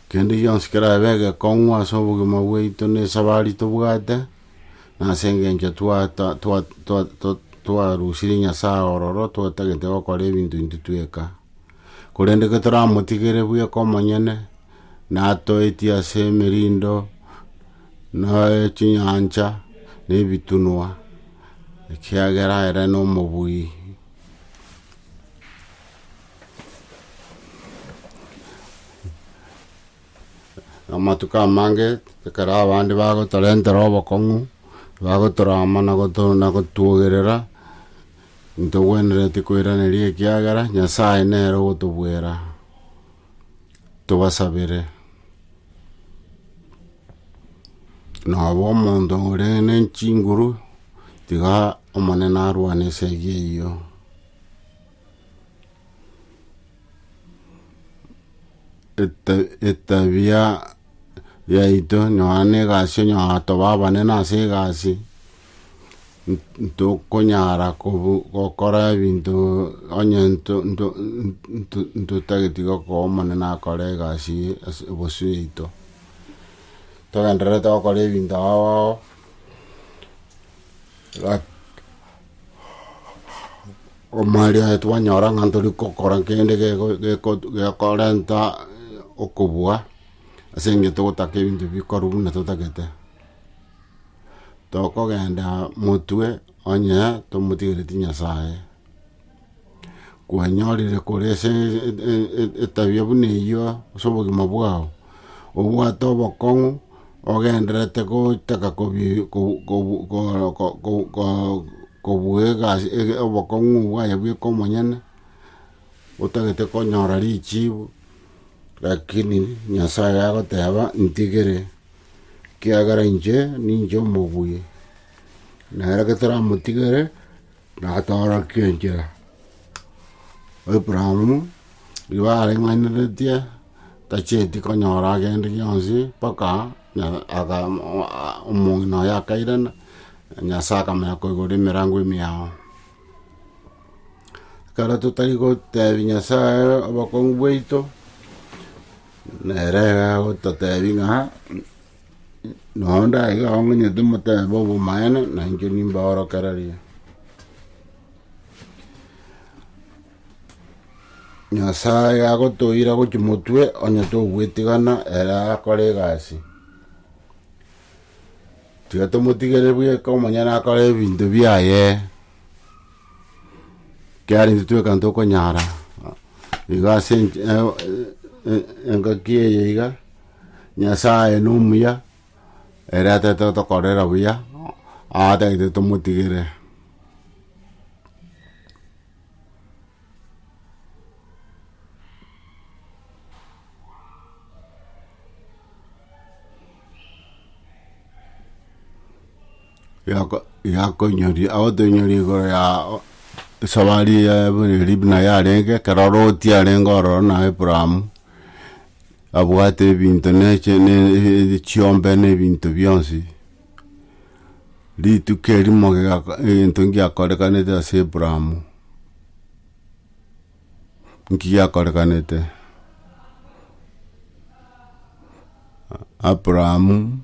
kende gionsi kerabe egekong'u ase obogima bwaito na esabari tobwate, na ase engencho twarusire Nyasaye ororo twatagete gokora ebinto intwe tweka. Korende getoramotigere bweka omonyene, natoetie ase emerindo, na chinyancha, na ebitunwa, ekiagera ere nomobui. Amatuko amange ekero abande bagotorentera obokong'u, bagotorama na goto- na gotuogerera, Ntogwenereti koiraneria ekiagera Nyasae nere ogotobwera tobasabere. Noba omonto ore ne chinguru tiga Omonene arwane esegi eyio. Eta- etabia yaito nonya ne egasi onye toba abanene ase egasi ntokonyara kobu- gokora ebinto onye nto- nto- nto- ntotageti gokoa Omonene akore egasi eye ase ebosio yaito. Togendererete gokora ebinto ao ao, gaki omwari oye twanyora ng'a ntori gokora kende geko- geko- gekorenta okobua, ase eng'encho togotaka ebinto bikorwa buna totagete. tokogenda motwe onye tomotigereti Nyasae. Kwanyorire kore ase etabia buna eyio ase obogima bwao, obwate obokong'u ogendererete gotaka kobuga egasi obokong'u obwo aye bweka omonyene, otagete konyora richibu, rakini Nyasae agoteba ntigere ekiagera inche ninche omobuya, na ere getoramotigere natoorokia enchera. Abrahamu rigo areng'aineretie tacheti konyora agende gionsi mpaka omong'ina oye akairana, Nyasae akamanya koigora emerango emiao. Ekero totari gotebia Nyasae obokong'u bwaito. Nere agagototeebia ng'a, Noo ndaiga iga ong'enyete moteebe obomaene, na inche nimbaorokererie. Nyasae agotoira gochia motwe, onye togwetigana ere akore egasi. Tiga tomotigere bweka omonyene akore ebinto biaye, ekiagera intwe tweka ntokonyara iga ase ench- e- e- engaki eye iga, Nyasaye na omuya, ere atagete gotokorera buya, atagete tomotigere. Yako- yakoinyori agotoinyori igoro ya esabari eye buna libina yarenge ekero loti arenge ororo na abrahamu, abwate ebinto na eche na echiombe na ebinto bionsi. Rituko erimo giako egento ngiakorekanete ase Abraham, nki giakorekanete? Abrahamu,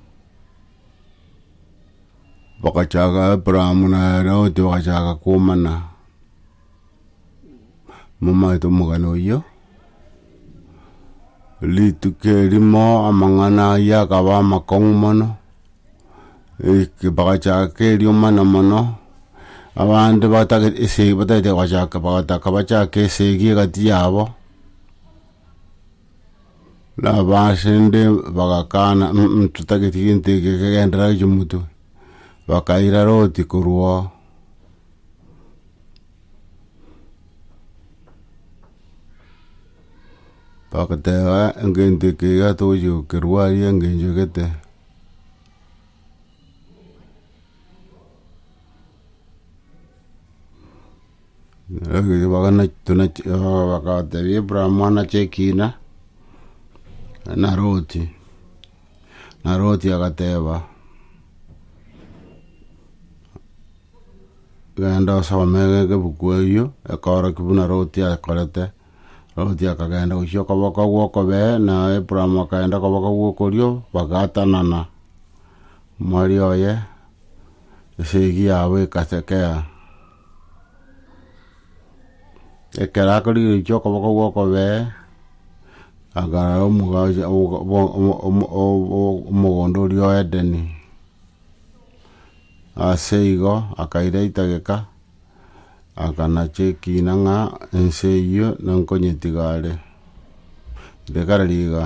bagachaka Abrahamu na Loti bagachaka komana. Momaete omogano oyio, rituko erimo amang'ana ayio akaba amakong'u mono, eke- bagachaka eriomana mono, abande batagete ese batagete gochaka bagataka bachake esegi egati yabo, na abasende bagakana um totageti gento eke kegenderere gochia motwe, bakairara oti korwa oo. Bagoteba egento eke iga togochi gokerua aria engencho gete. bagatebia Abraham anache ekina, naro oti. Na Loti agateba, Genda osome egebuku eyio, ekorokigwa buna Loti akorete. Loti akagenda gochia okoboko gw'okobee, na Abraham akagenda okoboko gw'okorio, bagaatanana. Mwari oye, esegi yabo ekasekea. Ekero akorigeretie okoboko gw'okobee, akarora omogacho ogo- ogo- ogo- omo- ogo- omogondo oria o Edeni, ase igo akaira etageka, akanacha ekina ng'a ense eyio nankonyetiga are, ekare riga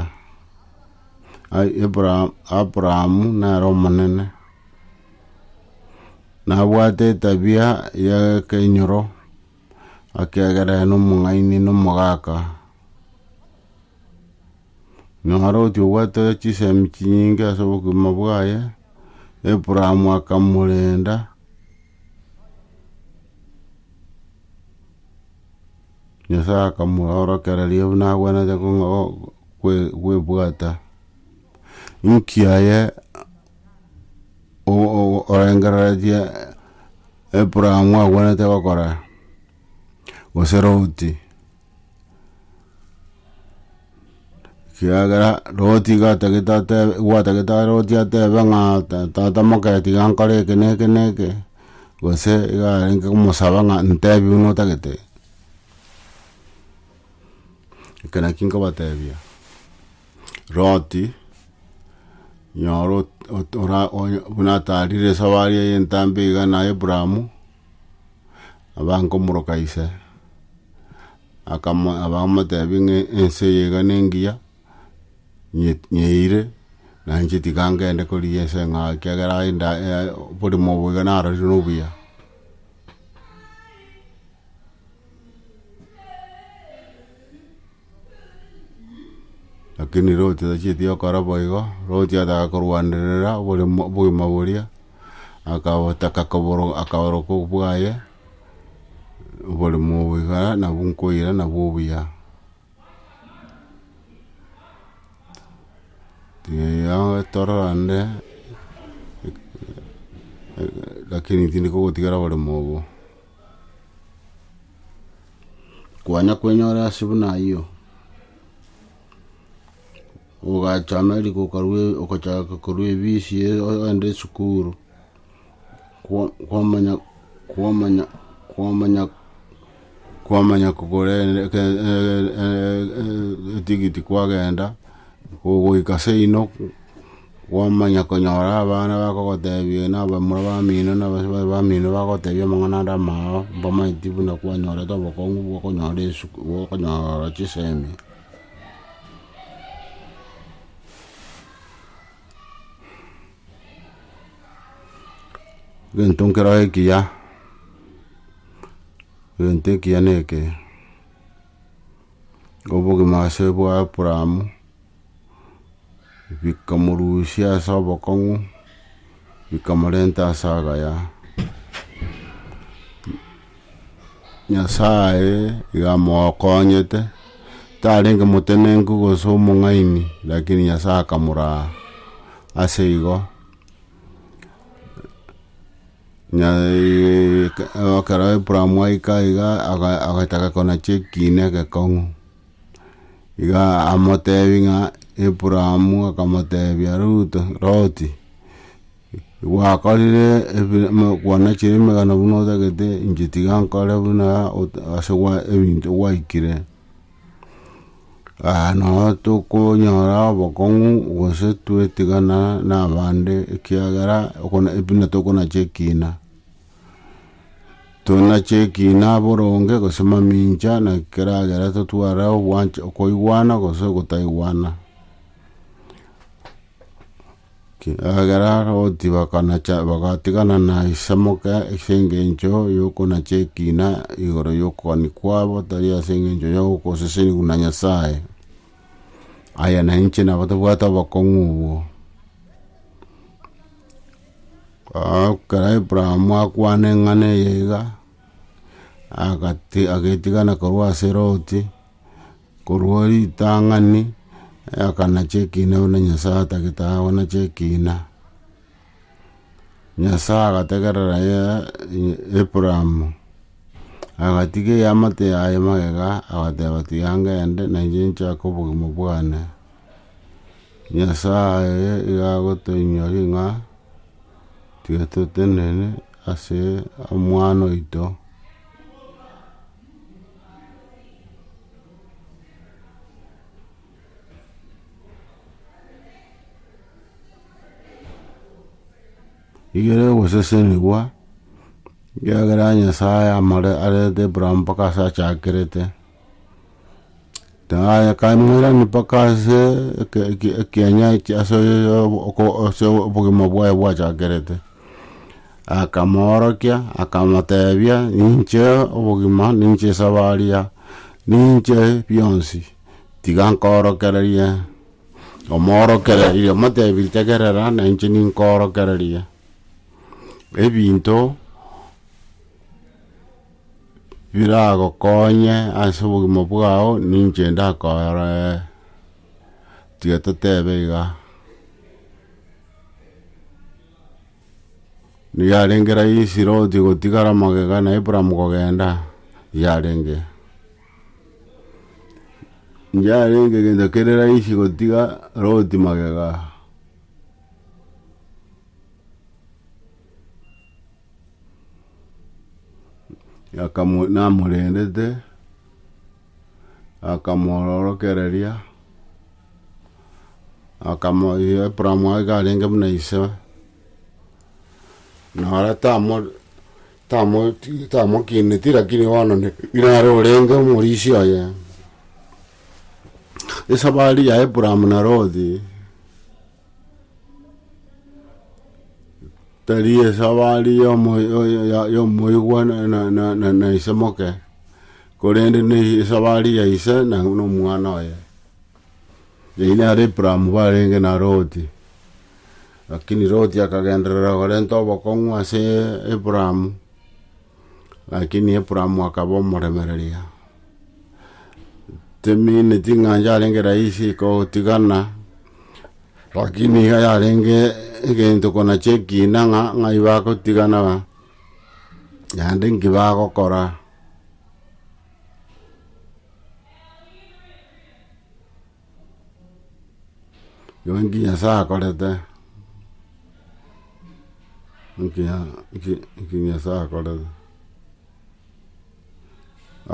Abraham Abraham nere omonene. Nabwate etabia y'ekeinyoro, ekiagera aye nomong'aini na omogaka. Naro otiga obwate chisemi chinyinge ase obogima bwaye, Abraham akamorenda, Nyasae akamoorokereria buna agwenerete kwebwata. Inki aye. orengereretie epuramu agwenerete gokora, gose routi, ekiagera routi iga atagete atebe gwatagete routi atebe ng'a tata moke tiga nkore eke na eke na eke, gose iga arenge komosaba ng'a ntebi buna otagete, eke naki nkobatebia. Loti, nyora ot- ot- ora- onya- buna atarire esabari eye entambe iga na Abrahamu, aba nkomoroka ise, akamo abamotebia ng'a ense eye iga nengiya, nye- nyeeire, na inche tiga ngende korigia ense ng'a ekiagera aye nda aya oborimo obo iga narorire nobuya. Lakini Loti tachieti gokora boigo, Loti ataka korwanerera oboremo obogima boria, akabotaka koboro akaoroka obwaye, oboremo obo iga nabo nkoira nabwo obuya. Tiga tororande lakini tindi kogotigara oboremo obo. Kwanya kwenyora ase buna ayio, ogachama riko okarua okachaka korwa ebisi ogenda esukuru, kwa- kwamanya kwamanya kwamanya kwamanya kogora etigiti kwagenda, ogoika seino. Gwamanya konyora abana bakogotebia na abamura bamino na abasibore bamino bagotebia amang'ana ande amao, mbamaeti buna kwanyorete obokong'u bw'okonyora esuku bw'okonyora chisemi. Egento nkere ekiya, egento ekiya neke, obogima ase bwa Abraham. bikamorusia ase obokong'u, bikamorenta ase agaya. Nyasaye iga amokonyete, tarenge motenenku gose omong'aini rakini Nyasaye akamoraa ase igo. ekero Abraham aika iga aga- agataka konacha ekiina egekong'u. Iga amotebi ng'a Aburaamu akamotebia Ruto, Loti, gwakorire ebi mo- kwanachire emegano buna otagete, inche tiga nkore buna ot- ase gwa ebinto gwaikire, aya nabo tokonyora obokong'u gose twetigana na abande ekiagera okona buna tokonacha ekina. Tonache ekina boronge gose mamincha na keragera totware ogwancha okoigwana gose ogotaigwana. Ekeragera roti bakanacha bagatigana na isamoke ase engencho yokonacha ekina igoro yokogani kwabo tari ase engencho ya ogosesenigwa na Nyasaye. Aya nainche nabo tobwate obokong'u obwo. Ekero Abrahamu akwana eng'ana eye iga, agati- agetigana korwa ase Loti, korwa ritang'ani, akanacha ekina buna Nyasae atagete aa gonacha ekina. Nyasae agategerera ye- e- Abrahamu, agatiga eamate yaye magega, agateba tiga ngende, na inche nchake obogima bwane. Nyasae iga agotoinyori ng'a tiga totenene ase Omwana oito. Igere ogosesenigwa, ekiagera Nyasae amare arete Abraham mpaka ase achakerete. Taya kaimoirani mpaka ase eke- eke- ekianya ekia ase oko- ase obogima bwaye bwachakerete, akamoorokia, akamotebia, ninche obogima, ninche esabaria, ninche bionsi, tiga nkoorokererie, omoorokereria, omotebiri tegerera nainche ninkoorokererie ebinto. biragokonye ase obogima bwao ninche ndakore. Tiga totebe iga. Yarenge rahisi Loti gotigara magega na Abraham kogenda? Yarenge. Yarenge gento kere rahisi gotiga Loti magega? Akamu- namorendete akamwororokereria akamo Abraham aye karenge buna ise naro tamo- tamo- ti- tamokineti lakini bono ne- nare orenge omorisia oye esabari ya Abraham na Loti. Tari esabari y'omo- yo- yo- ya- y'omoigwa na- na- na- na- na ise moke, korende na esabari ya ise na na omwana oye. Eyio nere Abraham barenge na Loti, lakini Loti akagenderera korenta obokong'u ase Abraham. Lakini Abrahamu akaba omoremereria, temineti ng'a inche arenge rahisi kogotigana, lakini iga yarenge egento kona chia ekina ng'a ng'ai bagotigana ng'a naende nki bagokora. Nonki Nyasae akorete, nonki Nya- nonki- nonki Nyasae akorete.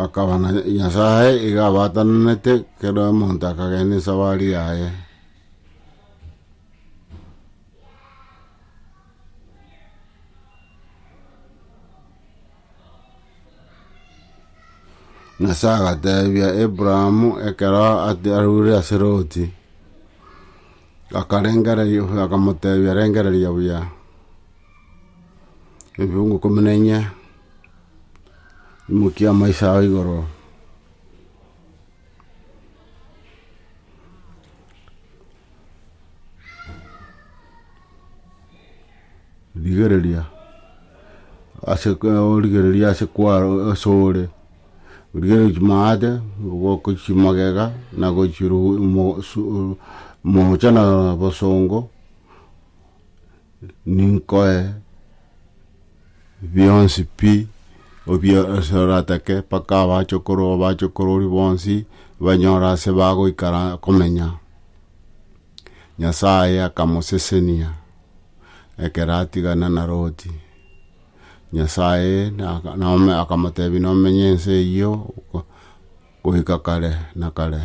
Akaba na Nyasae iga abatananete kero omonto akagenda esabari yaye. Nyasae agateebia Abrahamu ekero ati- arure ase Loti, akarengererio akamoteebia, Rengereria buya ebiungu ikomi na inye, imokia amaiso ao igoro, rigereria ase origereria ase kwaro ase ore, origereria chimaate, oboke chimagega na gochiruu mo su moocha na bosongo. Ninkoe bionsi pi ose oratake, mpaka abachokoro b'abachokoro oria bonsi banyore ase bagoikara komenya. Nyasae akamosesenia ekero atigana na Loti. Nyasae akamotebia nomenye ense eyio goika kare na kare.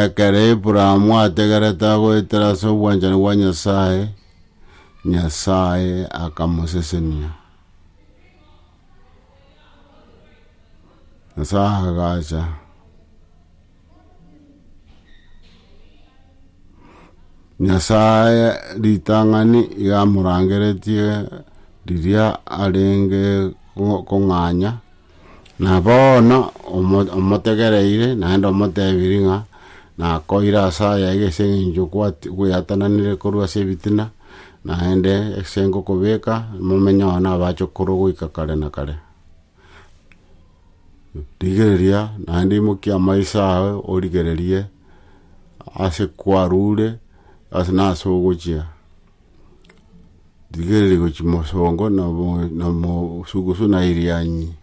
Ekero Abrahamu ategerete agoetera ase obwanchani bwa Nyasae, Nyasae akamosesenia. Nyasae agacha Nyasae ritang'ani iga amorangeretie riria arenge ko- kong'anya. Na bono omotegereire, naende omoteebiri ng'a nakoire ase aya iga ase engencho kweatananire korwa ase ebitina, naende ase ngokobeka momenye oo nabache korwa goika kare na kare. Rigereria naende imokia amaiso aye origererie ase kwarure nase ogochia. Rigereria gochia mosongo na mosugusu na erianyi,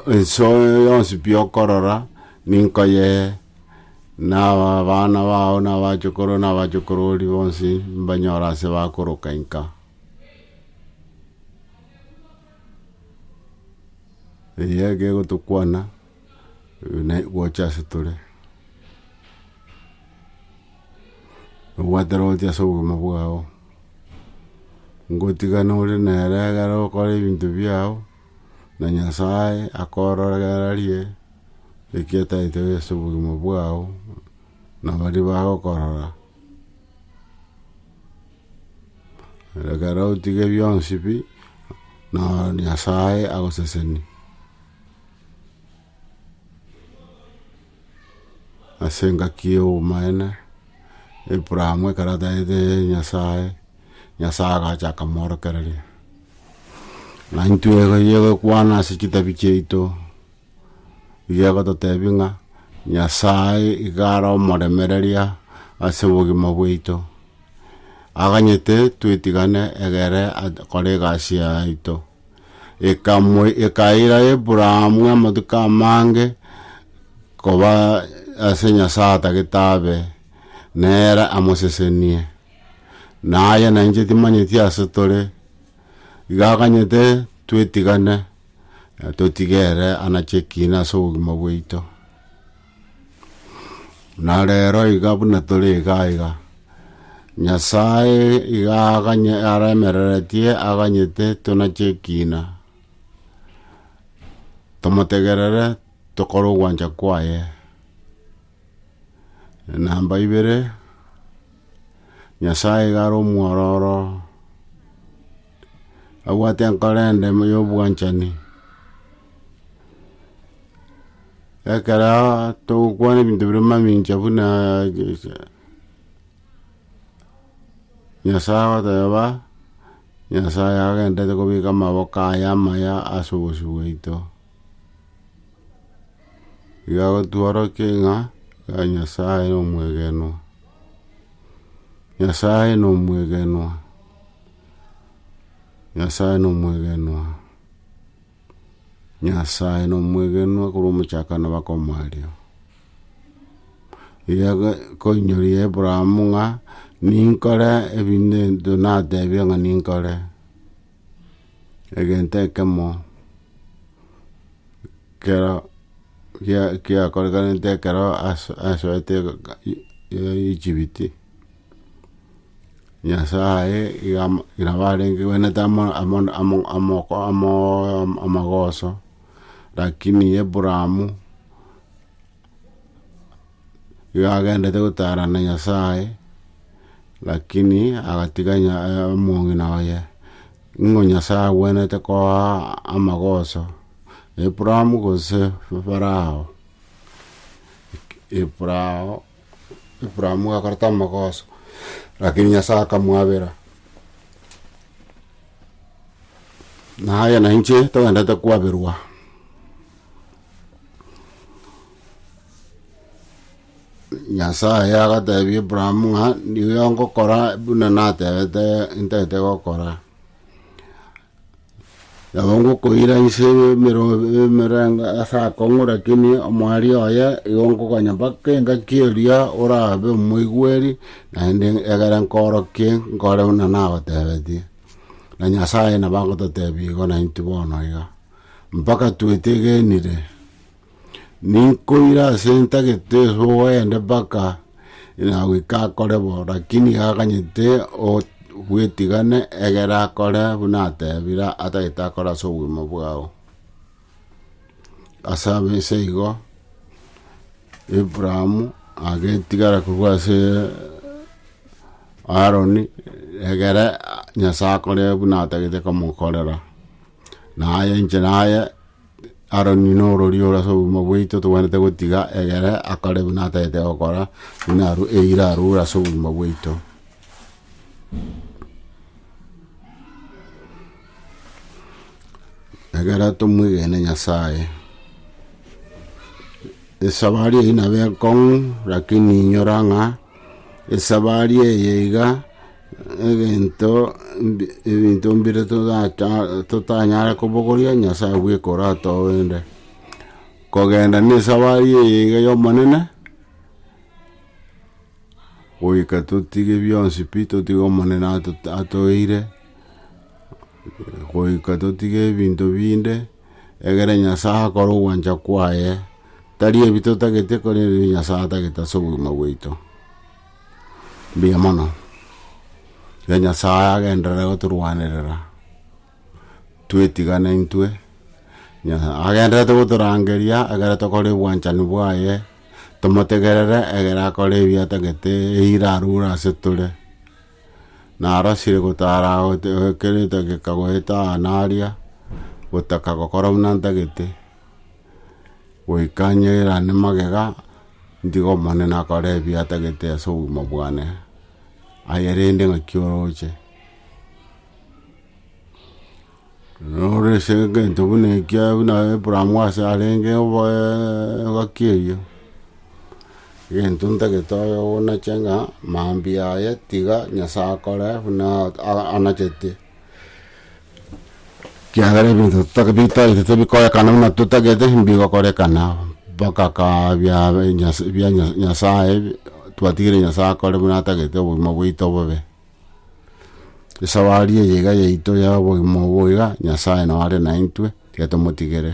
ense yonsi pi okorora ninko yee, na abana bao na abachokoro na abachokorori bonsi mbanyore ase bakoroka inka. Eye egegotokwana. gocha ase tore, obwatera ogochia ase obogima bwao, ngotigana ore nere ekero okora ebinto biao, na Nyasaye akoororerie eki ataete ase obogima bwao, na baria bagokorora. Ekero otiga ebionsi pi, na Nyasaye agoseseni. ase engaki y'obomaene, Abrahamu ekero ataete Nyasae, Nyasae agacha akamoorokereria. Na intwe eyio egokwana ase chitabi chiaito, iga egototebi ng'a Nyasae iga are omoremereria ase obogima bwaito, aganyete twetigane egere akore egasi yaye yaito. ekamwe ekaira Abraham amatuko amange koba ase Nyasae atagete abe nere amosesenie. Na aye na inche timanyeti ase tore, iga akanyete twetigane totige ere anache ekiina ase obogima bwaito. Na rero iga buna tore iga aiga, Nyasae iga aganye- aremereretie aganyete tonache ekiina, tomotegerere, tokore ogwancha kwaye. Namba ibere, Nyasae iga are omwororo. abwate enkoro endema y'obwanchani. Ekero togokwana ebinto bire mamincha buna Nyasae agoteba, Nyasae agenderete kobeka amaboko aye amaya ase obosio bwaito. Igo agotworokia ng'a Nyasae nomwegenwa, Nyasae nomwegenwa. Nyasae nomwegenwa, Nyasae nomwegenwa korwa omochakano bakomoa aria. Koinyoria Abraham ng'a ninkore ebi nto natebia ng'a ninkore, egento ekemo kero kiakorekanete ekero asoete Egypt. Nyasae iga nabarenge gwenerete amo amo amo amoko amooo amagoso, rakini Abraham, iga agenderete gotara na Nyasae, rakini agatiga nya omong'ina oye, ng'o Nyasae agwenerete koa amagoso Abraham gose Farao Farao. Ibrahimu akoreta amagoso, lakini Nyasae akamwabera. Na aye na inche togwendete kwaberwa. Nyasae agatebia Ibrahimu ng'a nigo ngokora buna natebete ntete gokora. Nabo ngokoira inse emero- emerengo ase akong'u, rakini omwaria oye igo nkokonya mpaka engaki eria orabe omoigweri, naende egere nkoorokie nkore buna nagotebetie. Na Nyasae nabo agototebia igo naintwe bono iga, mpaka twetegenire. Ninkoire ase ntagete oende mpaka inagoika akore bo, lakini gakanyete ogwetigana egere akore buna atebire atagete akore ase obogima bwao. Ase ense igo Abraham agetigara korwa ase Haroni egere Nyasae akore buna atagete komokorera. Na aye inche na aye, Aroni norori ore ase obogima bwaito, togwenerete gotiga egere akore buna atagete gokora, buna arue eira arure ase obogima bwaito. Egere tomwegene Nyasaye. Esabari eyio nabo ekong'u, rakini inyora ng'a esabari eye iga. Egento ebinto mbire totanyare kobogoria Nyasae bweka oratogende. Kogenda ne esabari eye iga ya Omonene, goika totige bionsi pi totige Omonene atoeire, goika totige ebinto binde, egere Nyasae akore ogwancha kwaye, tari ebi totagete korende ebi Nyasae atagete ase obogima bwaito. Mbuya mono, iga Nyasaye agenderere gotorwanerera, twetigane intwe, Nyasaye agendererete gotorangeria ekero tokore obwanchani bwaye, tomotegerere ekero akore ebi atagete, eira arure ase tore, narasire gotara gote ekero etageka goeta aa naria, gotaka gokora buna ntagete. goika nyeirane magega, ntige Omonene akore ebiya atagete ase obogima bwane, aye rende ng'aki oroche. Noro ase egento buna ekio buna Abraham ase arenge engaki eyio, egento ntagete oye onache ng'a mambia aye tiga Nyasae akore buna anachete. Kiagera ebinto totaka bitaete tebikorekana buna totagete mbigokorekana, mpaka kaa bia Nyasa bia Nya- Nyasaye twatigire Nyasaye akore buna atagete obogima bwaito bobe. Esafari eye iga yaito ya obogima obo iga, Nyasaye nao are naintwe, tiga tomotigere.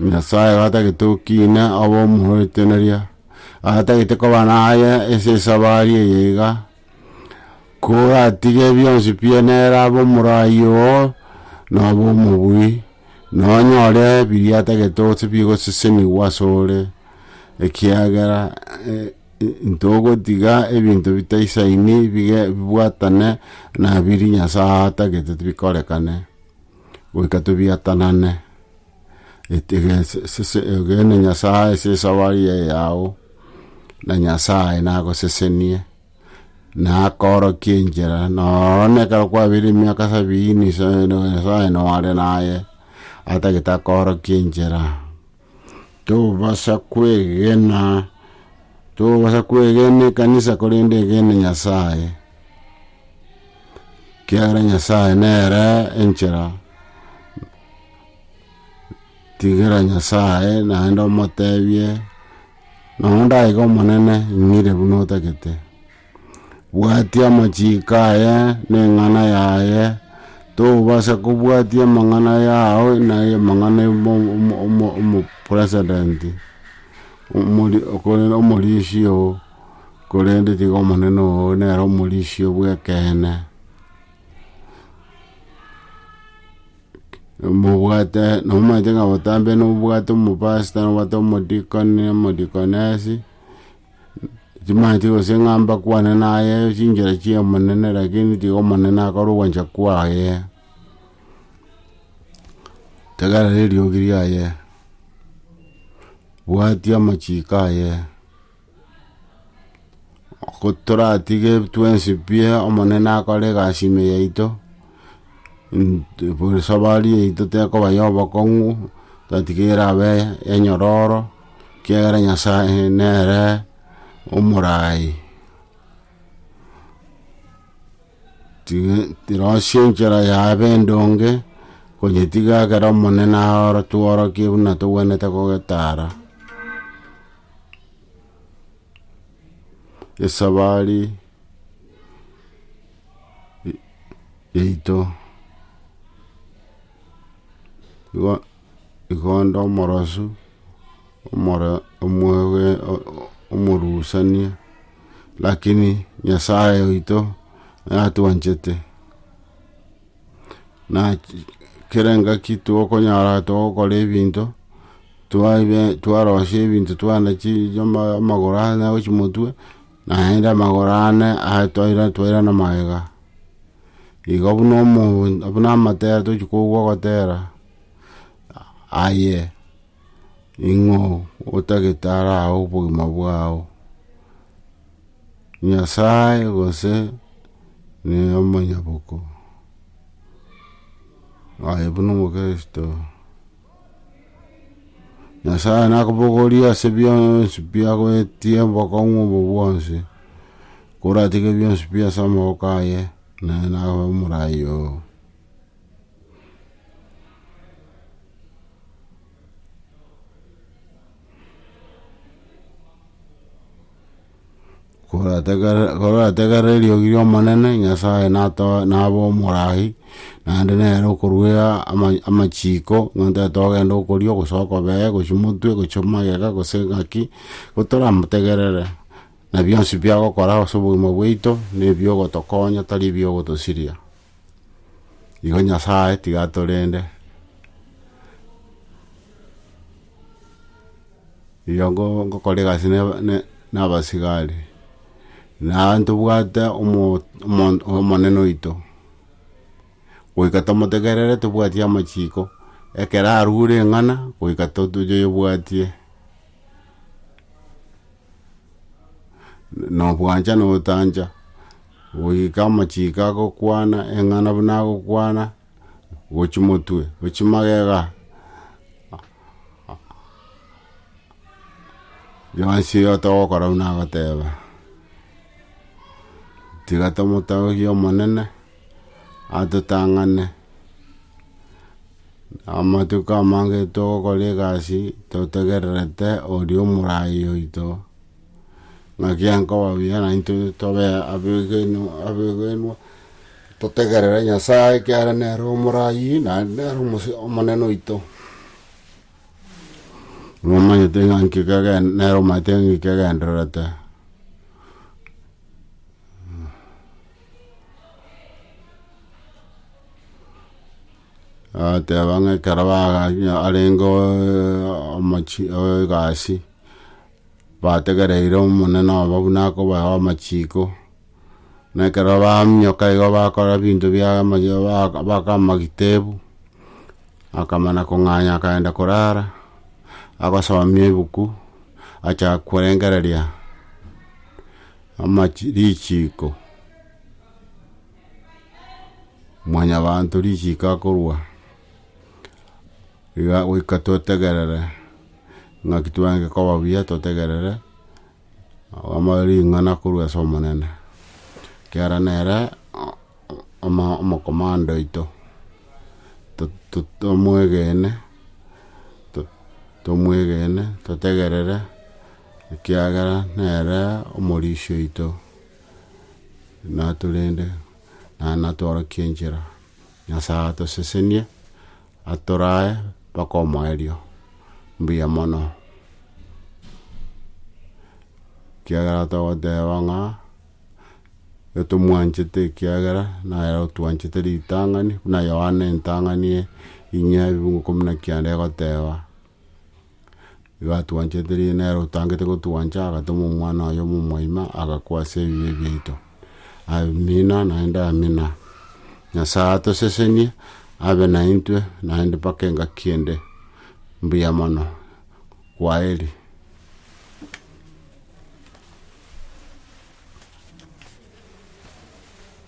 Nyasae gatagete okina obe omoeteneria, atagete koba naye ase esabari eye iga, koratige bionsi pi nere abe omorai oo, nobe omobui, nonyore biria atagete gose bigosesenigwa ase ore, ekiagera ntogotiga ebinto bitaisaini bige bibwatane na biri Nyasae atagete bikorekane. goika tobiatanane, egene Nyasae ase esabari eye yao, na Nyasae nagosesenie, na akoorokie enchera, noro na ekero kwabeire emiaka sabiini, Nyasae nore naye, atagete akoorokie enchera. Tobasa kwegena, tobasa kwegena ekanisa korende egene Nyasaye, kiagera Nyasaye nere enchera, tigera Nyasaye naende omotebie, nonye ndaiga omonene ing'ire buna otagete. Bwatia amachiiko aye na eng'ana yaye, tobasa kobwatia amang'ana yao na amang'ana omopresident, korende omorisia oo, korende tiga omonene oo nere omorisia bw'ekeene. Mobwate nomanyete ng'a botambe nobwate omopastor, nobwate omodikoni, omodikonesi, Chimanche gose ng'a mbakwane naye chinchera chi'Omonene, lakini tiga Omonene akore ogwancha kwaye, tegerera eriogi riaye, bwatia amachiko aye, ko toratige twensi pi Omonene akore egasi ime yaito, esabari yaito tekoba ya obokong'u, tatiga erabe enyororo. Ekiagera Nyasae nere omoraai, tirosie enchera ya abendonge, konyetiga ekero Omonene atworokie buna togwenerete kogetaara. Esabari yaito. Igo onde omorosu, omorusania, lakini Nyasae oito natwanchete, kera engaki togokonyora togokora ebinto, twarosia ebinto twane amagoro ane gochia omotwe, naende amagoro ane twairana magega. Igo buna omonto buna amatera tochi kogwa ogotera. Aye, ning'o otagete araao obogima bwao? Nyasae gose nomonyaboko? Aye buna omokristo, Nyasae nakobogorie ase bionsi biagoetie obokong'u obo bwonsi, koratige bionsi pi ase amaboko aye, naye naye omoraai oo. Korategerera eriogi ri'Omonene, Nyasae nato- nabe omoraai, naende nere okoruea ama- amachiko, nigo ntagete ogenda okorio, gose okobee, gose omotwe, gose magega, gose engaki, nigo toramotegerere, na bionsi biagokora ase obogima bwaito, nebi ogotokonya tari ebi ogotosiria. Igo Nyasae tiga atorende, rirorio ngo- ngokora egasi na aba- na- na abasigari, na ntobwate omo- omo- omonene oito, goika tomotegerere tobwati amachiko, ekero arure eng'ana, goika to- toyoyebwatie. na obwancha na otancha, goika amachiko agokwana, eng'ana buna agokwana, gochi motwe, gochi magega, bionsi iga togokora buna agoteba, tiga tomotogie Omonene. atotang'ane. Amatuko amange togokora egasi totegererete oria omorai oito, naki akoba buya naintwe tobe abegenu abegenwa, totegerere Nyasaye ekiagera nere omorai naende nere omose omonene oito. Nomanyete ng'a nki kege nere omanyete ng'a nki kegendererete. Agateba ng'a ekero bagachia arenge omochi egasi, bategereire omonene obo buna akobae amachiko, na ekero baminyoka igo bakora ebinto bia baka amagita ebu, akamana kong'anya akagenda korara, agosomia ebuku, acha korengereria. Amachi richiiko. Mwanyabaanto richiiko akorua, iga goika totegerere, ng'aki twange koba buya totegerere ama- ring'ana korwa ase Omonene, ekiagera nere oma- omokomando oito, to- tomwegene, to- tomwegene, totegerere Ekiagera nere omorisia oito, natorende, naye natworokia enchera. Nyasae atosesenie, atorae mpaka omoerio. Mbuya mono. Ekiagera togoteba ng'a etomwanchete ekiagera nere otwanchete ritang'ani, buna Yohana entang'ani ye ing'ea ebiungo ikomi na kianda egoteba. Igatwanchete rigiya nere otangete gotwancha agatoma omwana oye omomwaima agakwa ase ebibe biaito amina naende amina. Nyasaye atosesenie abe naintwe naende mpaka engaki ende mbuya mono kwaheri.